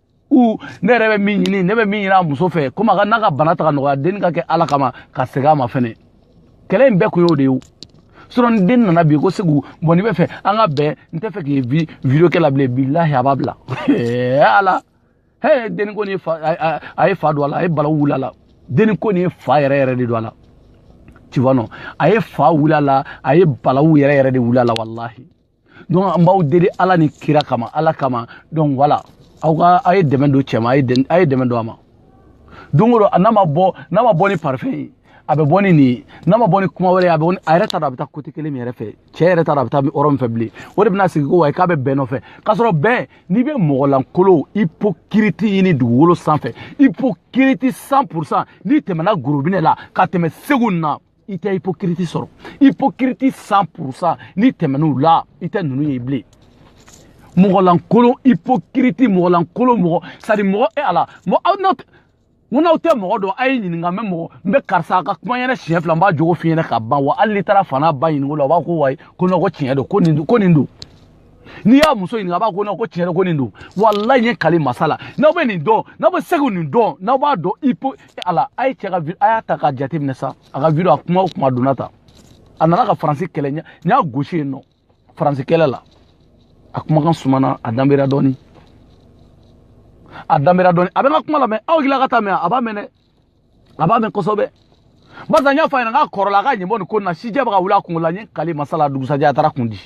u ne yɛrɛ bɛ min ɲini ne bɛ min ɲini a muso fɛ komi a ka n'a ka bana tɛ ka nɔgɔya denni k'a kɛ ala kama ka segin a ma fɛnɛ kɛlɛ in bɛɛ kun y'o de ye o sinɔn ni denni nana bi ko segu bon n'i b'a fɛ an ka bɛn n t'a fɛ k'i ye video kɛ la bilen bilahi a b'a bila ala he denni ko ni fa a ye fa don a la a ye balawu wuli a la denni ko ni fa yɛrɛ yɛrɛ de don a la tu vois non a ye fa wuli a la a ye balawu yɛrɛ yɛrɛ de wuli a la walahi donc an b'aw deli ala ni kira kama ala kama donc voilà aw ka aw ye dɛmɛ don cɛ ma aw ye dɛmɛ don a ma don o don n'a ma bɔ n'a ma bɔ ni parfum ye a bɛ bɔ ni nin ye n'a ma bɔ ni kuma wɛrɛ ye a bɛ a yɛrɛ t'a dɔn a bɛ taa côté kelen min yɛrɛ fɛ cɛ yɛrɛ t'a dɔn a bɛ taa yɔrɔ min fɛ bilen o de bɛna sigi ko ouais k'a bɛ bɛn nɔfɛ k'a sɔrɔ bɛn n'i bɛ mɔgɔ lankolon hypocrite ɲini dugukolo sanfɛ hypocrite cent pour cent n'i tɛmɛna gorobinɛ la ka tɛmɛ segu na i tɛ hypocrite sɔrɔ hypocrite cent pour cent n'i tɛmɛn'u la i tɛ ninnu ye bilen mɔgɔlankolon hypocrite mɔgɔlankolon mɔgɔ sadi mɔgɔ e ala mɔ aw n'aw ŋo n'aw tɛ mɔgɔ dɔn a ye ɲininka mais mɔgɔ n bɛ karisa ka kuma ɲɛnɛ siɲɛ fila n b'a jogo fi ɲɛnɛ ka ban wa hali n'i taar'a fa n'a ba ɲininka olu b'a ko ouais ko non ko tiɲɛ don ko nin ko nin don n'i y'a muso ɲininka a b'a ko non ko tiɲɛ yɛrɛ ko nin don walayi n ye n kali masa la n'aw bɛ nin dɔn n'aw bɛ segu nin dɔn n'aw b'a dɔn i po ala a ye cɛ ka a y'a ta k'a jateminɛ sa a ka video a kuma o kuma donna ta a nana ka faransi kɛlɛ n y'a gosi yen nɔ faransi kɛlɛ la a kumakan sumana a danbera dɔɔni a danbera dɔɔni a bɛ n ka kuma lamɛn aw hakili la k'a t'a mɛn a b'a mɛn dɛ a b'a mɛn kosɛbɛ barisa n y'a fɔ a ɲɛna k'a kɔrɔla a k'a ɲɛ bɔ nin ko nin na sijɛ bɛ ka wuli a kungolo la n ye n kali masa la dugusajɛ a taar'a kun di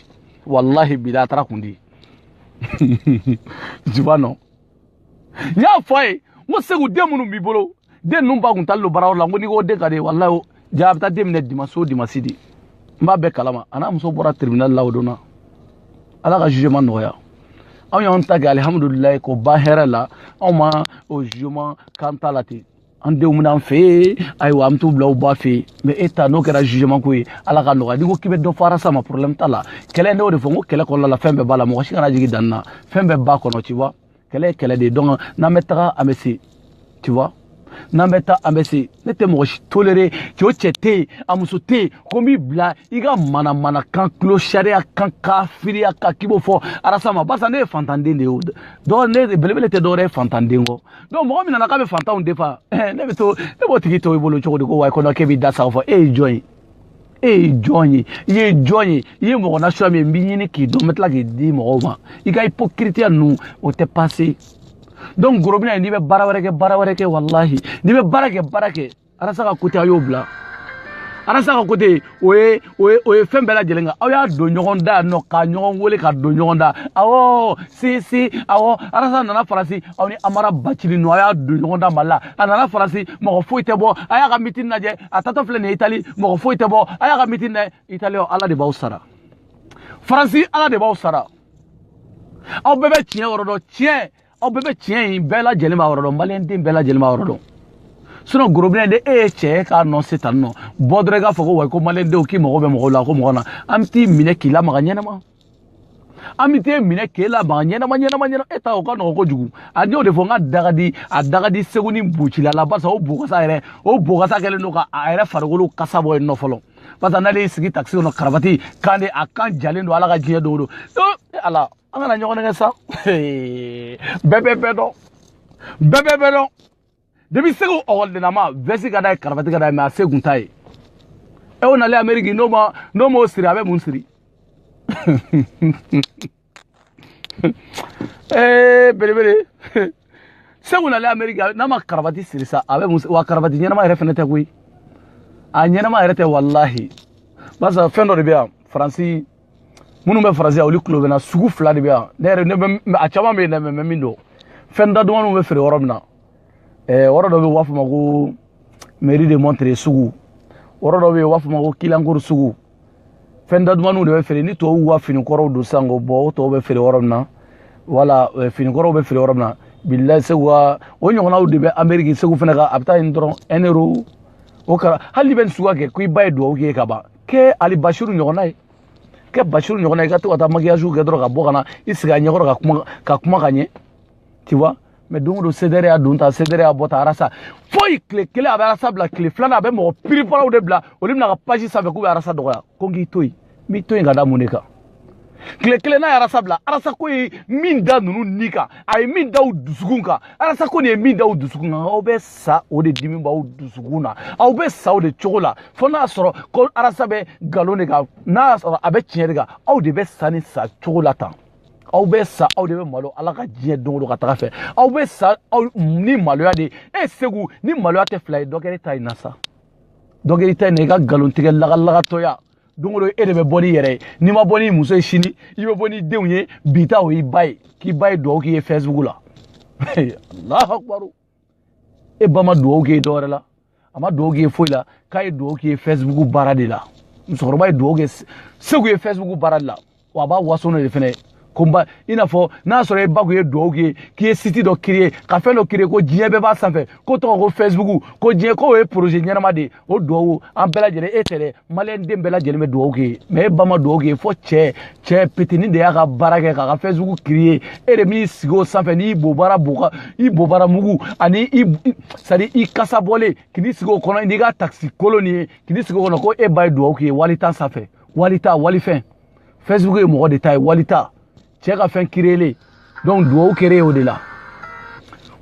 walahi bilahi a taar'a kun di jiba nɔ n y'a fɔ a ye n ko segu den minnu b'i bolo den ninnu ba kun taalen don baarayɔrɔ la n ko n'i ko den ka d'i ye walahi ja a bɛ taa den minɛ dimansi o dimansi de n b'a bɛɛ kalama a n'a muso bɔra tribunal la o don na ala ka jugement nɔgɔya anw y'anw ta kɛ alihamudulilayi ko ba hɛrɛ la anw ma o jugement k'an ta la ten an denw bɛ na an fɛ yen ayiwa an bɛ t'u bila u ba fɛ yen mais e ta n'o kɛra jugement ko ye ala ka nɔgɔya n'i ko k'i bɛ dɔ fɔ arasa ma problème t'a la kɛlɛ ne y'o de fɔ n ko kɛlɛ kɔnɔna la fɛn bɛɛ b'a la mɔgɔ si kana jigin danni na fɛn bɛɛ b'a kɔnɔ tu vois kɛlɛ ye kɛlɛ de ye donc n'an bɛ taga an bɛ se tu vois n'an bɛ taa an bɛ se ne tɛ mɔgɔ si tolérer cɛ o cɛ tɛ yen a muso tɛ yen ko n b'i bila i ka manamana kan tulo sariya kan kafiriya kan k'i b'o fɔ arasa ma barisa ne ye fantanden de ye o dɔw ne belebele tɛ dɔwɛrɛ ye fantanden kɔ donc mɔgɔ min nana k'a bɛ fantanw défendre ne bɛ to ne b'o tigi to i bolo cogo di ko ouais ko non k'e b'i da sago fɔ e ye jɔn ye e ye jɔn ye i ye jɔn ye i ye mɔgɔ nasuya min ye n b'i ɲini k'i dɔn n bɛ tila k'i di mɔgɔw ma i ka hypocritiya ninnu o tɛ passer donc gorobinɛ ye n'i bɛ baara wɛrɛ kɛ baara wɛrɛ kɛ walahi n'i bɛ baara kɛ baara kɛ arasa ka côté a y'o bila arasa ka côté o ye o ye o ye fɛn bɛɛ lajɛlen kan aw y'a don ɲɔgɔn da yan nɔ ka ɲɔgɔn wele ka don ɲɔgɔn da awɔ si si awɔ arasa nana faransi aw ni amara bacili ninnu aw y'a don ɲɔgɔn da mali la a nana faransi mɔgɔ foyi tɛ bɔ a y'a ka meeting lajɛ a tatɔ filɛ nin ye itali mɔgɔ foyi tɛ bɔ a y'a ka meeting lajɛ itali ala de b'aw sara faransi ala de b'aw sara aw bɛɛ bɛ tiɲɛ yɔrɔ dɔn tiɲɛ aw bɛɛ bɛ tiɲɛ in bɛɛ lajɛlen b'a yɔrɔ dɔn maliyɛn den bɛɛ lajɛlen b'a yɔrɔ dɔn sinon gorobinɛ de e ye cɛ ye k'a nɔ se tan nɔ bɔ dɔrɔn i k'a fɔ ko ouais ko maliyɛn denw k'i mago bɛ mɔgɔw la ko mɔgɔ na an bɛ t'i minɛ k'i lamaga ɲɛnɛma an bɛ t'e minɛ k'e laban ɲɛnama ɲɛnama ɲɛnama e ta o ka nɔgɔn kojugu a n y'o de fɔ n k'a da ka di a da ka di segu ni bocila la barisa o bokasa yɛrɛ o bokasa kɛlen don ka a yɛrɛ farikolo kasa bɔ yen nɔ fɔlɔ barisa n'ale y'i sigi takisi kɔnɔ karabati kan de a kan jalen don ala ka diɲɛ don o don e ala an kana ɲɔgɔn nɛgɛn sa bɛɛ bɛ bɛɛ dɔn bɛɛ bɛ bɛɛ dɔn depi segu ɔgɔlidennama vɛsi ka d'a ye karafati ka d'a ye mɛ a se kun t'a ye e o nalen ameriki n'o ma n'o m'o siri a bɛ mun siri ee belebele segu nalen ameriki n'a ma karafati siri sa a bɛ mun wa karafati ɲɛnama yɛrɛ fɛnɛ tɛ koyi a ɲɛnama yɛrɛ tɛ walahi barisa fɛn dɔ de bɛ yan faransi minnu bɛ faransi yan olu tulo bɛ n na sugu fila de bɛ yan ne yɛrɛ ne bɛ a caman bɛ yen dɛ mɛ min don fɛn da dumanw bɛ feere yɔrɔ min na ɛɛ yɔrɔ dɔ bɛ yen u b'a fɔ ma ko mairie de montreuil sugu yɔrɔ dɔ bɛ yen u b'a fɔ ma ko clignancourt sugu fɛn da dumanw de bɛ feere ni tubabuw ka fini kɔrɔw don sisan k'o bɔ o tɔw bɛ feere yɔrɔ min na wala fini kɔrɔw bɛ feere yɔrɔ min na bilayi segu ka o ɲɔgɔnnaw de bɛ ameriki segu fana ka a bɛ taa yen dɔrɔn un euro o kɛra hali n'i bɛ nin suguya kɛ ko i ba ye dugawu k'i ye ka ban kɛ hali basiru ɲɔgɔnna ye kɛ basiru ɲɔgɔnna i ka to ka taa makiyaziw kɛ dɔrɔn ka bɔ ka na i sigi a ɲɛkɔrɔ ka kuma ka kuma ka ɲɛ tu vois mais don o don sedɛrɛ y'a don ta sedɛrɛ y'a bɔ ta arasa foyi tile kelen a bɛ arasa bila tile filanan a bɛ mɔgɔ piriparaw de bila olu bɛ n'a ka page sanfɛ k'u bɛ arasa dɔgɔya ko n k'i to yen n b'i to yen ka da mun de kan tile kelen n'a ye arasa bila arasa ko ye min da ninnu ni kan a ye min da u dusukun kan arasa ko nin ye min da u dusukun kan aw bɛ sa o de dimi b'aw dusukun na aw bɛ sa o de cogo la fo n'a sɔrɔ ko arasa bɛ nkalon de kan n'a sɔrɔ a bɛ tiɲɛ de kan aw de bɛ sa ni sa cogo la tan aw bɛ sa aw de bɛ malo ala ka diɲɛ don o don ka tag'a fɛ aw bɛ sa aw ni maloya de e segu ni maloya tɛ fila ye dɔ kɛra e ta in na sa dɔ kɛra e ta in na i ka nkalontigɛ lagalagatɔya don o don e de bɛ bɔ n'i yɛrɛ ye n'i ma bɔ n'i muso ye sini i bɛ bɔ n'i denw ye bi ta o y'i ba ye k'i ba ye dugawu k'i ye fɛsibugu la alahu akubaru e ba ma dugawu k'i ye dɔwɛrɛ la a ma dugawu k'i ye foyi la k'a ye dugawu k'i ye fɛsibugu baara de la musokɔrɔba ye dugawu kɛ segu ye fɛsibugu baara de la wa a b'a waso n'o de fɛnɛ ye ko n ba i n'a fɔ n'a sɔrɔ e ba kun ye duwawu k'i ye k'i ye siti dɔ kiriye ka fɛn dɔ kiriye ko diɲɛ bɛɛ b'a sanfɛ k'o tɔgɔ ko fɛsibuku ko diɲɛ k'o ye poroze ɲɛnama de ye o duwawu an bɛɛ lajɛlen e tɛ dɛ maliyɛn den bɛɛ lajɛlen bɛ duwawu k'i ye mɛ e ba ma duwawu k'i ye fo cɛ cɛ petini de y'a ka baara kɛ k'a ka fɛsibuku kiriye e de b'i sigi o sanfɛ n'i bobara boka i bobara mugu ani i sadi i kasa bɔlen k'i sigi o kɔnɔ n'i ka takisi kolon nin ye k'i sigi o kɔnɔ ko e ba ye duwawu k'i ye wali ta sanfɛ walita walifɛn facebook ye mɔgɔ de ta ye walita cɛ ka fɛn kiriyelen donc duwawu kɛra o de la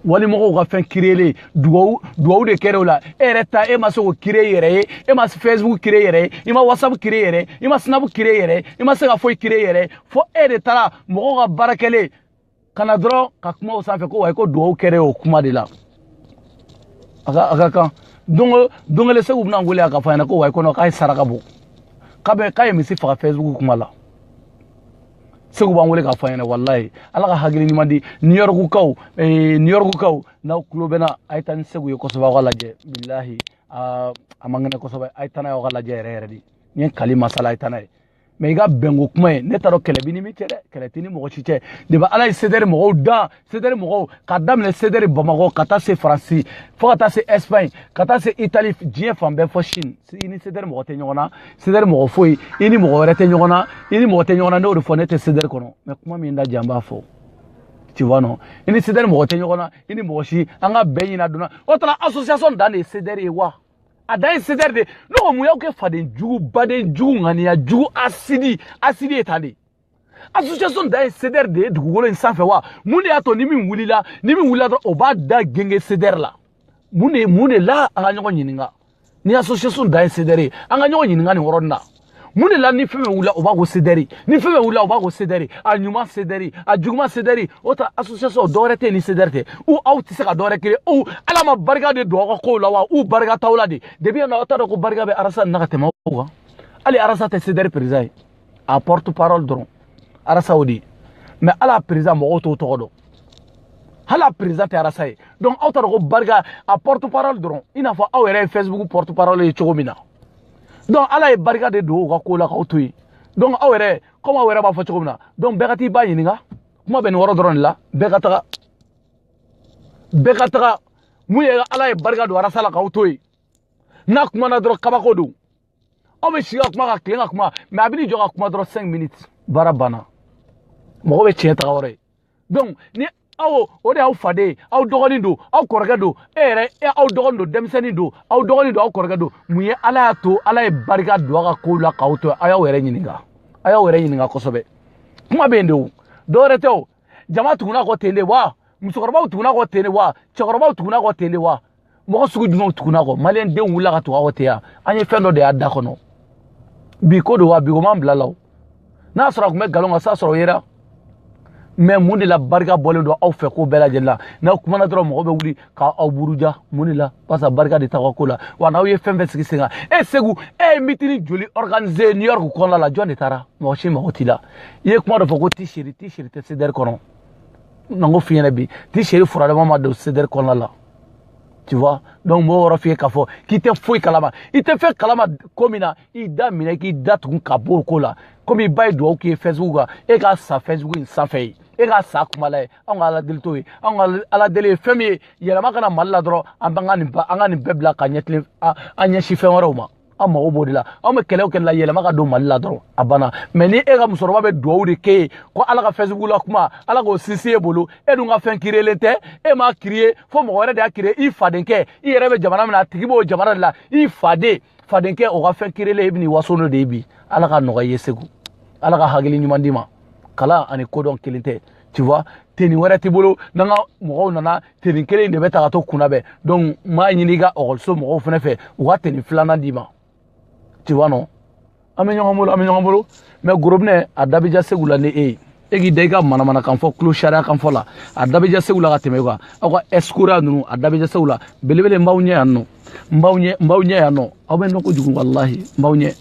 walimɔgɔw ka fɛn kiriyelen duwawu duwawu de kɛra o la e yɛrɛ ta e ma se k'o kire i yɛrɛ ye e ma facebook kire i yɛrɛ ye i ma whatsapp kire i yɛrɛ ye i ma snap kire i yɛrɛ ye i ma se ka foyi kire i yɛrɛ ye fo e de taara mɔgɔw ka baara kɛlen ka na dɔrɔn ka kuma o sanfɛ ko wayi ko dugawu kɛra o kuma de la a ka a ka kan don don kelen seku bɛna n wele a ka fɔ a ɲɛna ko wayi ko nɔ k'a ye saraka bɔ k'a bɛ k'a ye misi faga fɛsibuku kuma la seku b'an wele k'a fɔ a ɲɛna walayi ala ka hakili ɲuman di new york kaw eh, new york kaw n'aw tulo bɛ n na a ye taa ni seku ye kosɛbɛ aw k'a lajɛ bilahi a man kɛnɛ kosɛbɛ a ye taa n'a ye aw k'a lajɛ yɛrɛ yɛrɛ de n ye kali masa la a ye taa n'a ye mɛ i ka bɛnko kuma ye ne t'a dɔn kɛlɛ b'i ni min cɛ dɛ kɛlɛ t'i ni mɔgɔ si cɛ depi ala ye sedɛri mɔgɔw dan sedɛri mɔgɔw k'a daminɛ sedɛri bamakɔ ka taa se faransi fo ka taa se ɛsipaɲi ka taa se itali diɲɛ fan bɛɛ fo sini i ni sedɛri mɔgɔ tɛ ɲɔgɔn na sedɛri mɔgɔ foyi i ni mɔgɔ wɛrɛ tɛ ɲɔgɔn na i ni mɔgɔ tɛ ɲɔgɔn na ne y'o de fɔ ne tɛ sedɛri kɔnɔ mɛ kuma min da jan b'a fɔ tu vois non i ni sedɛri mɔgɔ tɛ ɲɔgɔn na i ni mɔgɔ si an ka bɛn ɲina donna o tuma association dan de ye sedɛri ye wa a dan ye sedɛri de ne ko mun y'aw kɛ faden jugu baden jugu ŋaniya jugu hasidi hasidi ye tan de association dan ye sedɛri de ye dugukolo in sanfɛ wa mun de y'a to ni min wulila ni min wulila dɔrɔn o b'a da gengen sedɛri la mun de mun de la an ka ɲɔgɔn ɲininka ni association dan ye sedɛri ye an ka ɲɔgɔn ɲininka nin yɔrɔnin na mun de la ni fɛn fɛn wulila o b'a ko sedɛri ni fɛn fɛn wulila o b'a ko sedɛri a ɲuman sedɛri a juguman sedɛri o ta association dɔwɛrɛ tɛ ni sedɛri tɛ u aw tɛ se ka dɔwɛrɛ kɛlɛ u ala ma barika de don aw ka kow la wa u barika t'aw la de depi yan na aw t'a dɔn ko barika bɛ arasa na ka tɛmɛ aw kan hali arasa tɛ sedɛri perezan ye a porte parole dɔrɔn arasa o de ye mɛ hali a perezan mɔgɔw t'o tɔgɔ dɔn hali a perezan tɛ arasa ye donc aw t'a dɔn ko barika a porte parole dɔrɔn i n'a fɔ aw yɛrɛ ye facebook porte parole ye cogo min na donc ala ye barika de don u ka ko la k'aw to yen donc aw yɛrɛ komi aw yɛrɛ b'a fɔ cogo min na donc bɛɛ ka t'i ba ɲininka kuma bɛ nin yɔrɔ dɔrɔn de la bɛɛ ka taga bɛɛ ka taga mun ye ala ye barika don arasa la k'aw to yen n'a kuma na dɔrɔn kabako don aw bɛ si ka kuma ka tilen ka kuma mɛ a bɛ n'i jɔ ka kuma dɔrɔn 5 minutes baara banna mɔgɔ bɛ tiɲɛ taga yɔrɔ ye donc ni awɔ o de y'aw faden ye aw dɔgɔnin don aw kɔrɔkɛ don e yɛrɛ e aw dɔgɔnin don denmisɛnnin don aw dɔgɔnin don aw kɔrɔkɛ don mun ye ala y'a to ala ye barika don a ka kow la k'aw to a y'aw yɛrɛ ɲininka a y'aw yɛrɛ ɲininka kosɛbɛ kuma bɛ yen de o dɔwɛrɛ tɛ o jama tugunna a kɔ ten de wa musokɔrɔbaw tugunna a kɔ ten de wa cɛkɔrɔbaw tugunna a kɔ ten de wa mɔgɔ sugu jumɛnw tugunna kɔ maliyɛn denw wulila ka tugu aw tɛ yan an ye fɛn dɔ de y'aw da kɔnɔ bi ko don wa bi ko m'an bila la o n'a sɔrɔ a tun bɛ nkalon kan sa sɔrɔ o yera mɛ mun de la barika bɔlen don aw fɛ ko bɛɛ lajɛlen la n'aw kumana dɔrɔn mɔgɔ bɛ wuli ka aw buruja mun de la barisa barika de t'aw ka ko la wa n'aw ye fɛn fɛn sigi sen kan e segu e ye meeting joli organise new york kɔnɔna la jɔn de taara mɔgɔ si mago t'i la i ye kuma dɔ fɔ ko ti seri ti seri tɛ sedɛri kɔnɔ na n k'o f'i ɲɛna bi ti seri fila dama ma don sedɛri kɔnɔna la tu vois donc mɔgɔ yɔrɔ f'i ye k'a fɔ k'i tɛ foyi kalama i tɛ fɛn kalama ko min na i da minɛ k'i da tugun ka bɔ o ko la komi i ba ye dugawu k'i ye facebook kan e k'a sa facebook in sanfɛ ye e k'a sa kuma la ye anw ka ala deli t'o ye anw ka ala deli ye fɛn min ye yɛlɛma ka na mali la dɔrɔn an b'an ka nin an ka nin bɛɛ bila k'an ɲɛ tilen an ɲɛsin fɛn wɛrɛw ma an mago b'o de la anw bɛ kɛlɛ o kɛlɛ la yɛlɛma ka don mali la dɔrɔn a banna mɛ ni e ka musokɔrɔba bɛ dugawu de k'e ye ko ala ka facebook la kuma ala k'o sinsin e bolo e dun ka fɛn kiriyelen tɛ e m'a kiriye fo mɔgɔ wɛrɛ de y'a kiriye i fadenkɛ i yɛrɛ bɛ jamana min na a tigi b'o jamana de la i faden fadenkɛ o ka fɛn kiriyelen e bɛ n'i waso n'o de ye bi ala ka nɔgɔya i ye segu ala ka hakili ɲuman d'i ma kalan ani kodɔn kelen tɛ tu vois tenue wɛrɛ t'i bolo n'an ka mɔgɔw nana tenue kelen de bɛ ta ka t'u kunnabɛn donc n b'a ɲini i ka ɔkɔliso mɔgɔw fana fɛ u ka tenue filanan d'i ma tu vois non an bɛ ɲɔgɔn bolo an bɛ ɲɔgɔn bolo mɛ gorobinɛ a da bɛ ja segu la ni e ye e k'i da i ka manamana kan fɔ tulo sariya kan fɔ la a da bɛ ja segu la ka tɛmɛ e kan aw ka ɛsikoriya ninnu a da bɛ ja segu la belebele n b'aw ɲɛ yan nɔ n b'aw ɲɛ n b'aw ɲɛ yan nɔ aw bɛ nɔ kojugu walahi n b'aw ɲɛ n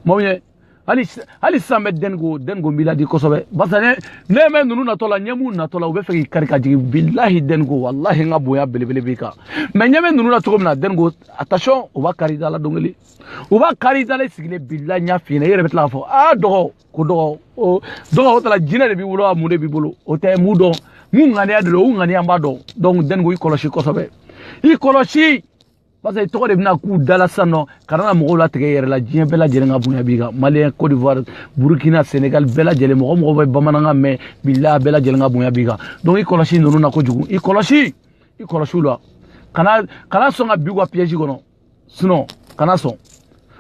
b'aw ɲɛ hali hali sisan bɛ denko denko n b'i ladi kosɛbɛ barisa ne ɲɛ bɛ ninnu natɔ la n ɲɛ b'u natɔ la u b'a fɛ k'i kari ka jigin bilahi denko walahi n ka bonya belebele b'i kan mɛ n ɲɛ bɛ ninnu na cogo min na denko attention u b'a kari i da la don kelen u b'a kari i da la i sigilen bilahi n y'a f'i ɲɛna i yɛrɛ bɛ tila k'a fɔ aa dɔgɔ ko dɔgɔ o dɔgɔ o tala jinɛ de b'i bolo a mun de b'i bolo o tɛ mun dɔn mun ŋaniya de don o ŋaniya n b'a dɔn donc denko i kɔlɔsi kosɛbɛ i kɔlɔsi parce que tɔgɔ de bɛna k'u da la sisan nɔ kana mɔgɔw latigɛ i yɛrɛ la diɲɛ bɛɛ lajɛlen ka bonya b'i kan maliyɛn cote d'ivoire burukina senegal bɛɛ lajɛlen mɔgɔ o mɔgɔ bɛ bamanankan mɛn bila bɛɛ lajɛlen ka bonya b'i kan donc i kɔlɔsi ninnu na kojugu i kɔlɔsi i kɔlɔsi u la kana kana sɔn ka bin u ka piège kɔnɔ sinon kana sɔn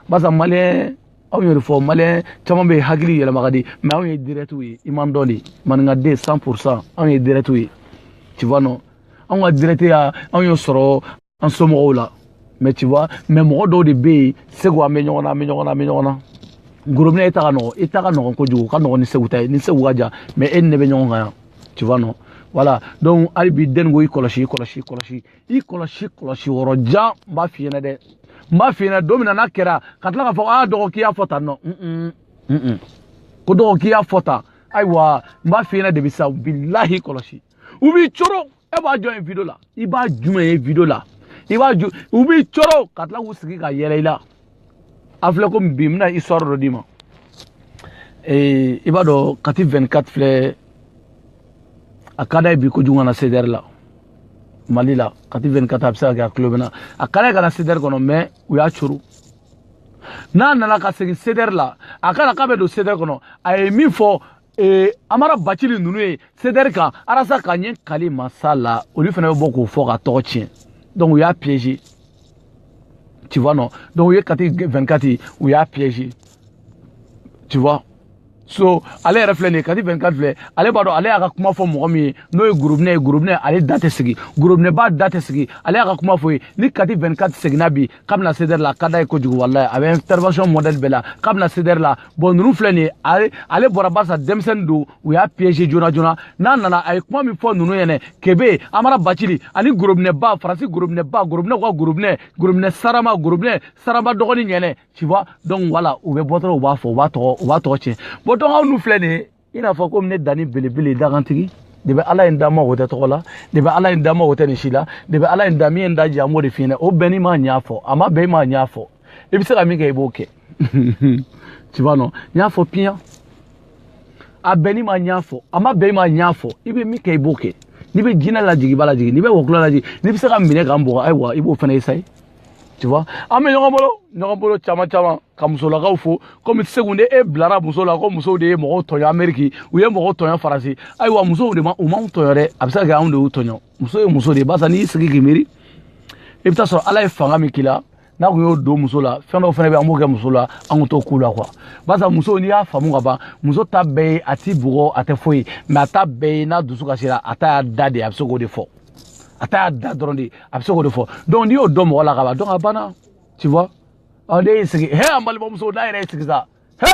barisa maliyɛn anw y'o de fɔ maliyɛn caman bɛ hakili yɛlɛma ka di mais anw ye dirɛtiw ye i m'an dɔn dɛ maninkaden 100 pour cent anw ye dirɛtiw ye tu vois non anw ka dirɛtiya anw y'o sɔrɔ an somɔgɔw la mɛ tu vois mɛ mɔgɔ dɔw de bɛ yen segu an bɛ ɲɔgɔn na an bɛ ɲɔgɔn na an bɛ ɲɔgɔn na gorobinɛ e ta ka nɔgɔn e ta ka nɔgɔn kojugu ka nɔgɔn ni segu ta ye n ni segu ka jan mɛ e ni ne bɛ ɲɔgɔn kan yan tu vois non voilà donc hali bi denko i kɔlɔsi i kɔlɔsi i kɔlɔsi i kɔlɔsi kɔlɔsi yɔrɔ jan n b'a f'i ɲɛna dɛ n b'a f'i ɲɛna don min na n'a kɛra ka tila k'a fɔ aa dɔgɔ k'i y'a fɔ tan nɔ ko dɔgɔ k'i y'a fɔ tan ayiwa n b'a f'i ɲɛna de bi sa bilahi kɔlɔsi u b'i coro e ba ju yen video la i ba jumɛn ye video la i ba ju u b'i coro ka tila k'u sigi ka yɛlɛ i la a filɛ ko bi n bɛna histoire dɔ d'i ma i b'a dɔn kati 24 filɛ a ka d'a ye bi kojugu ka na sedɛri la mali la kati 24 a bɛ se ka kɛ a tulo bɛ n na a ka d'a ye ka na sedɛri kɔnɔ mɛ u y'a coro n'a nana ka segin sedɛri la a kana k'a bɛ don sedɛri kɔnɔ a ye min fɔ ee amara bacili ninnu ye sedɛri kan arasa ka ɲɛ kali masa la olu fana bɛ bɔ k'o fɔ k'a tɔgɔ tiɲɛ donc u y'a piéger tu vois non donc u ye kati 24 ye u y'a piéger tu vois so ale yɛrɛ filɛ nin ye kati 24 filɛ ale b'a dɔn ale y'a ka kuma fɔ mɔgɔ min ye n'o ye gorobinɛ ye gorobinɛ ale da tɛ sigi gorobinɛba da tɛ sigi ale y'a ka kuma fɔ ye ni kati 24 seginna bi k'a bɛ na sedɛri la a ka d'a ye kojugu walayi a bɛ intervention modèle bɛɛ la k'a bɛ na sedɛri la bon ninnu filɛ nin ye ale ale bɔra barisa denmisɛnnin don u y'a piéger joona joona n'a nana a ye kuma min fɔ ninnu ɲɛna kebe amara bacili ani gorobinɛba faransi gorobinɛba gorobinɛw ka gorobinɛ gorobinɛ sarama gorobinɛ sarama dɔgɔnin ɲɛna tu vois donc wala u bɛ bɔ dɔrɔn u b'a fɔ u b'a tɔgɔ u b'a tɔgɔ tiɲɛ bon donc aw n'u filɛ nin ye i n'a fɔ komi ne dani belebele dagantigi de bɛ ala in dama o tɛ tɔgɔ la de bɛ ala in dama o tɛ nin si la de bɛ ala in da min ye n da jɛ an b'o de f'i ɲɛna o bɛnn'i ma n y'a fɔ a ma bɛn i ma n y'a fɔ i bɛ se ka min kɛ i b'o kɛ tu vois non n y'a fɔ piyan a bɛnn'i ma n y'a fɔ a ma bɛn i ma n y'a fɔ i bɛ min kɛ i b'o kɛ n'i bɛ jinɛ lajigin i b'a lajigin n'i bɛ wɔkulɔ lajigin n'i bɛ se k'an minɛ k'an bugɔ ayiwa i b'o fana essayer tu vois an bɛ ɲɔgɔn bolo ɲɔgɔn bolo caman caman ka muso la k'a fɔ komi segu ni e bilara muso la ko musow de ye mɔgɔw tɔɲɔ ameriki u ye mɔgɔw tɔɲɔ faransi ayiwa musow de ma u m'anw tɔɲɔ dɛ a bɛ se ka kɛ anw de y'u tɔɲɔ muso ye muso de ye barisa n'i y'i sigi k'i miiri i bɛ taa sɔrɔ ala ye fanga min k'i la n'a kun y'o don muso la fɛn dɔw fana bɛ an b'o kɛ muso la an kun t'o k'u la quoi barisa muso n'i y'a faamu ka ban muso ta bɛɛ ye a t'i bugɔ a tɛ foyi mɛ a ta bɛɛ ye n'a dusu kasira a ta y'a da de ye a bɛ se k'o de fɔ a ta y'a da dɔrɔn de a bɛ se k'o de fɔ donc n'i y'o dɔn mɔgɔ la ka ban donc a banna tu vois ɔ ne y'i sigi he an balimamuso n'a yɛrɛ y'i sigi sa he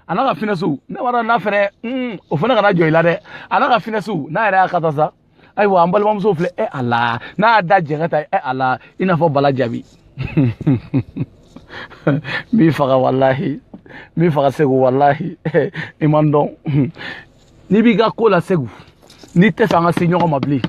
a n'a ka finɛsiw ne b'a dɔn n'a fɛnɛ un o fana kana jɔ i la dɛ a n'a ka finɛsiw n'a yɛrɛ y'a kata sa ayiwa an balimamuso filɛ e a la n'a y'a da jɛngɛ ta e a la i n'a fɔ bala jabi n b'i faga walahi n b'i faga segu walahi i ma n dɔn n'i b'i ka ko la segu n'i tɛ fɛ an ka se ɲɔgɔn ma bilen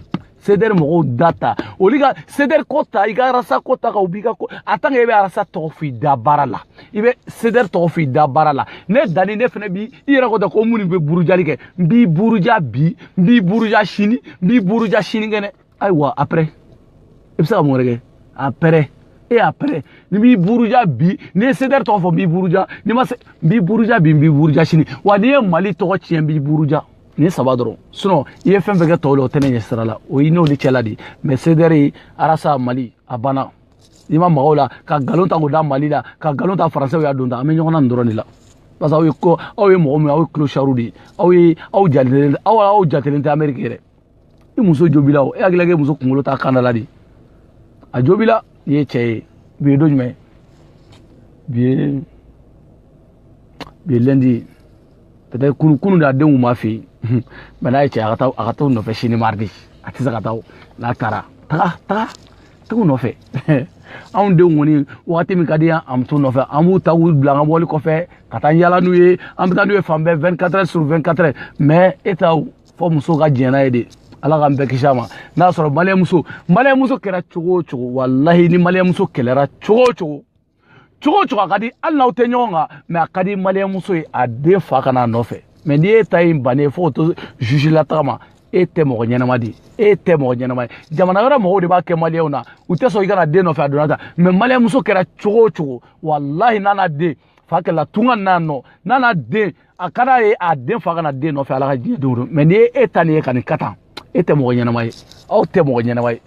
sedɛri mɔgɔw da ta olu ka sedɛri ko ta i ka arasa ko ta ka u b'i ka ko a tan ke i bɛ arasa tɔgɔ f'i dabara la i bɛ sedɛri tɔgɔ f'i dabara la ne dani ne fana bi i yɛrɛ ko tɛ ko minnu bɛ burujali kɛ n b'i buruja bi n b'i buruja sini n b'i buruja sinikɛnɛ ayiwa après i bɛ se ka mun wɛrɛ kɛ après e y'a pɛrɛ n b'i buruja bi n'i ye sedɛri tɔgɔ fɔ n b'i buruja n'i ma se n b'i buruja bi n b'i buruja sini wa n'i ye mali tɔgɔ tiɲɛ n b'i buruja nin saba dɔrɔn sinɔn i ye fɛn o fɛn kɛ tɔw la o tɛ ne ɲɛ sira la o y'e n'olu cɛla de ye mɛ sedɛri arasa mali a banna n'i ma maga u la ka nkalon ta k'o da mali la ka nkalon ta faransɛw y'a don ta an bɛ ɲɔgɔn na nin dɔrɔn de la parce que aw ye ko aw ye mɔgɔ min ye aw ye kilosariw de ye aw ye aw jatelen aw aw jatelen tɛ ameriki yɛrɛ i muso jobila o e hakilila k'e muso kunkolo t'a kan da la de a jobila i ye cɛ ye bi ye don jumɛn bi ye bi ye lɛndi ye peut-être kunu kunu de a denw b'a fɛ yen mɛ n'a ye cɛ a ka taa a ka t'o nɔfɛ sini maridi a tɛ se ka taa o n'a taara taga taga taga u nɔfɛ anw denw kɔni wagati min ka di an muso nɔfɛ an b'u ta k'u bila an ka mɔbili kɔfɛ ka taa yala n'u ye an bɛ taa n'u ye fan bɛɛ 24 heures sur 24 heures mais e ta fo muso ka diɲɛ n'a ye de ala k'an bɛɛ kisi a ma n'a y'a sɔrɔ maliyɛnmuso maliyɛnmuso kɛra cogo o cogo walahi ni maliyɛnmuso kɛlɛra cogo o cogo cogo o cogo a ka di hali n'aw tɛ ɲɔgɔn kan mɛ a ka di maliyɛnmuso ye a den fa ka na a nɔfɛ mɛ n'i ye ta in bannen fo ka to juge lataga ma e tɛ mɔgɔ ɲɛnama de e tɛ mɔgɔ ɲɛnama ye jamana wɛrɛ mɔgɔw de b'a kɛ maliyɛnw na u tɛ sɔn i ka na den nɔfɛ a donna ta mɛ maliyɛnmuso kɛra cogo o cogo walahi n'a n'a den fa kɛla tunga n'a nɔ n'a n'a den a ka d'a ye a den fa ka na den nɔfɛ ala ka diɲɛ don mɛ n'i ye e ta nin ye ka nin kɛ tan e tɛ mɔgɔ ɲɛnama ye aw tɛ mɔgɔ ɲɛnama ye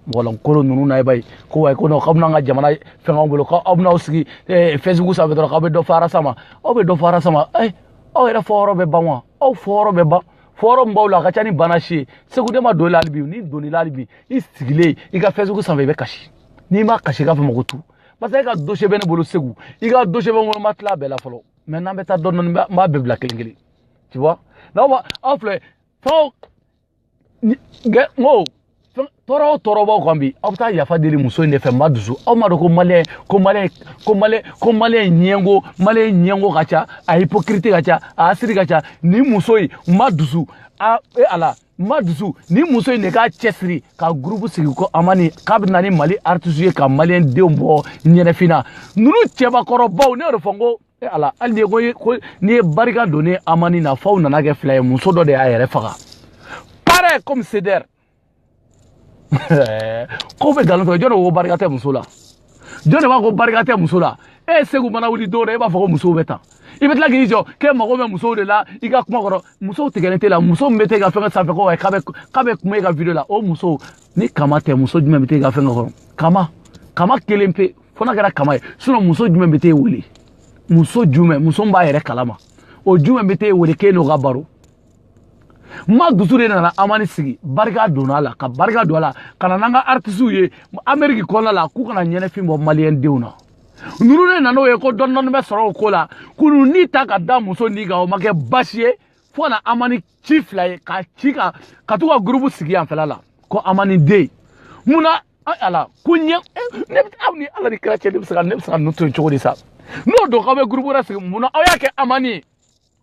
mɔgɔlankolo ninnu na i b'a ye ko wayi ko k'aw bɛna an ka jamana fɛngɛw bolo ko aw bɛn'aw sigi eh, facebook sanfɛ dɔrɔn k'aw bɛ dɔ fɔ arasa ma aw bɛ dɔ fɔ arasa ma eh, aw yɛrɛ fɔyɔrɔ bɛ ban wa aw fɔyɔrɔ bɛ ban fɔyɔrɔ min b'aw la a ka ca ni bana si ye segu ne ma don i la hali bi ni n donn'i la hali bi i sigilen i ka facebook sanfɛ i bɛ kasi n'i ma kasi i k'a fɔ mɔgɔ tu parce que e ka dosiyɛ bɛ ne bolo segu i ka dosiyɛ bɛ n kɔnɔ n ma tila a bɛɛ la fɔlɔ mɛ n'an bɛ taa dɔɔni dɔɔni n b'a bɛɛ bila kelen kelen tu vois n'aw ma aw filɛ fɛn n ko tɔɔrɔ o tɔɔrɔ b'aw kan bi aw bɛ taa yafa deli muso in de fɛ madusu aw m'a dɔn ko maliyɛn ko maliyɛn ko maliyɛn ko maliyɛn ɲɛngo maliyɛn ɲɛngo ka ca a hypocrite ka ca a asiri ka ca nin muso in madusu a e ala madusu nin muso in de k'a cɛsiri ka gurupu sigi ko amani k'a bɛ na ni mali aritisu ye ka maliyɛn denw bɔ ɲɛnɛfin na ninnu cɛbakɔrɔbaw ne y'o de fɔ n ko e ala hali ni ko ko n'i ye barika don ni amani na f'aw nana kɛ fila ye muso dɔ de y'a yɛrɛ faga pare comme sedɛr k'o bɛ nkalon tigɛ jɔn de ko barika tɛ muso la jɔn de b'a ko barika tɛ muso la e segu mana wuli dɔrɔn e b'a fɔ ko musow bɛ tan i bɛ tila k'i jɔ k'e mago bɛ musow de la i ka kuma kɔrɔ musow tigɛlen t'e la muso min bɛ t'e ka fɛn sanfɛ ko k'a bɛ k'a bɛ kuma e ka video la o muso ni kama tɛ muso jumɛn bɛ t'e ka fɛn kɔrɔ kama kama kelen pe fo n'a kɛra kama ye sinɔn muso jumɛn bɛ t'e wele muso jumɛn muso min b'a yɛrɛ kalama o jumɛn bɛ t'e wele k'e n'o ka baro madusu de nana amani sigi barika donna ala ka barika don a la ka na n'an ka artisiw ye ameriki kɔnɔna la k'u ka na ɲɛnafin bɔ maliyɛn denw na ninnu de nan'o ye ko dɔɔni dɔɔni bɛ sɔrɔ o ko la k'olu ni ta ka da muso ni kan o ma kɛ baasi ye fo ka na amani ci fila ye ka ci ka ka to ka gurupu sigi yan fila la ko amani deux mun na ala ko ɲɛ ne bɛ aw ni ala ni kira cɛ ne bɛ se ka ne bɛ se ka ninnu to yen cogo di sa n'o don k'aw bɛ gurupu wɛrɛ sigi mun na aw y'a kɛ amani ye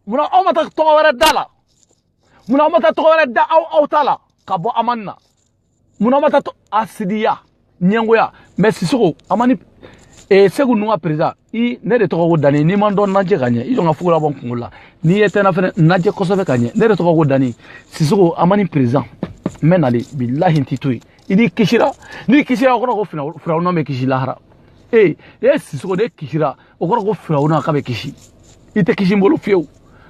mun na aw ma taa tɔgɔ wɛrɛ da la mun na aw ma taa tɔgɔ wɛrɛ da aw aw ta la ka bɔ amani na mun na aw ma taa hasidiya ɲɛngoya mɛ sisoko amani e seku ninnu ka perezan i ne de tɔgɔ ko dani n'i ma dɔn n lajɛ ka ɲɛ i jɔ n ka fugula bɔ n kunkolo la n'i ɲɛ tɛna fɛn ye n lajɛ kosɛbɛ ka ɲɛ ne de tɔgɔ ko dani sisoko amani perezan n bɛ n kali bilahi n t'i to yen i n'i kisira n'i kisira o kɔrɔ ko firawuna bɛ kisi lahara ee e sisoko n'e kisira o kɔrɔ ko firawuna k'a bɛ kisi i tɛ kisi n bolo fiyewu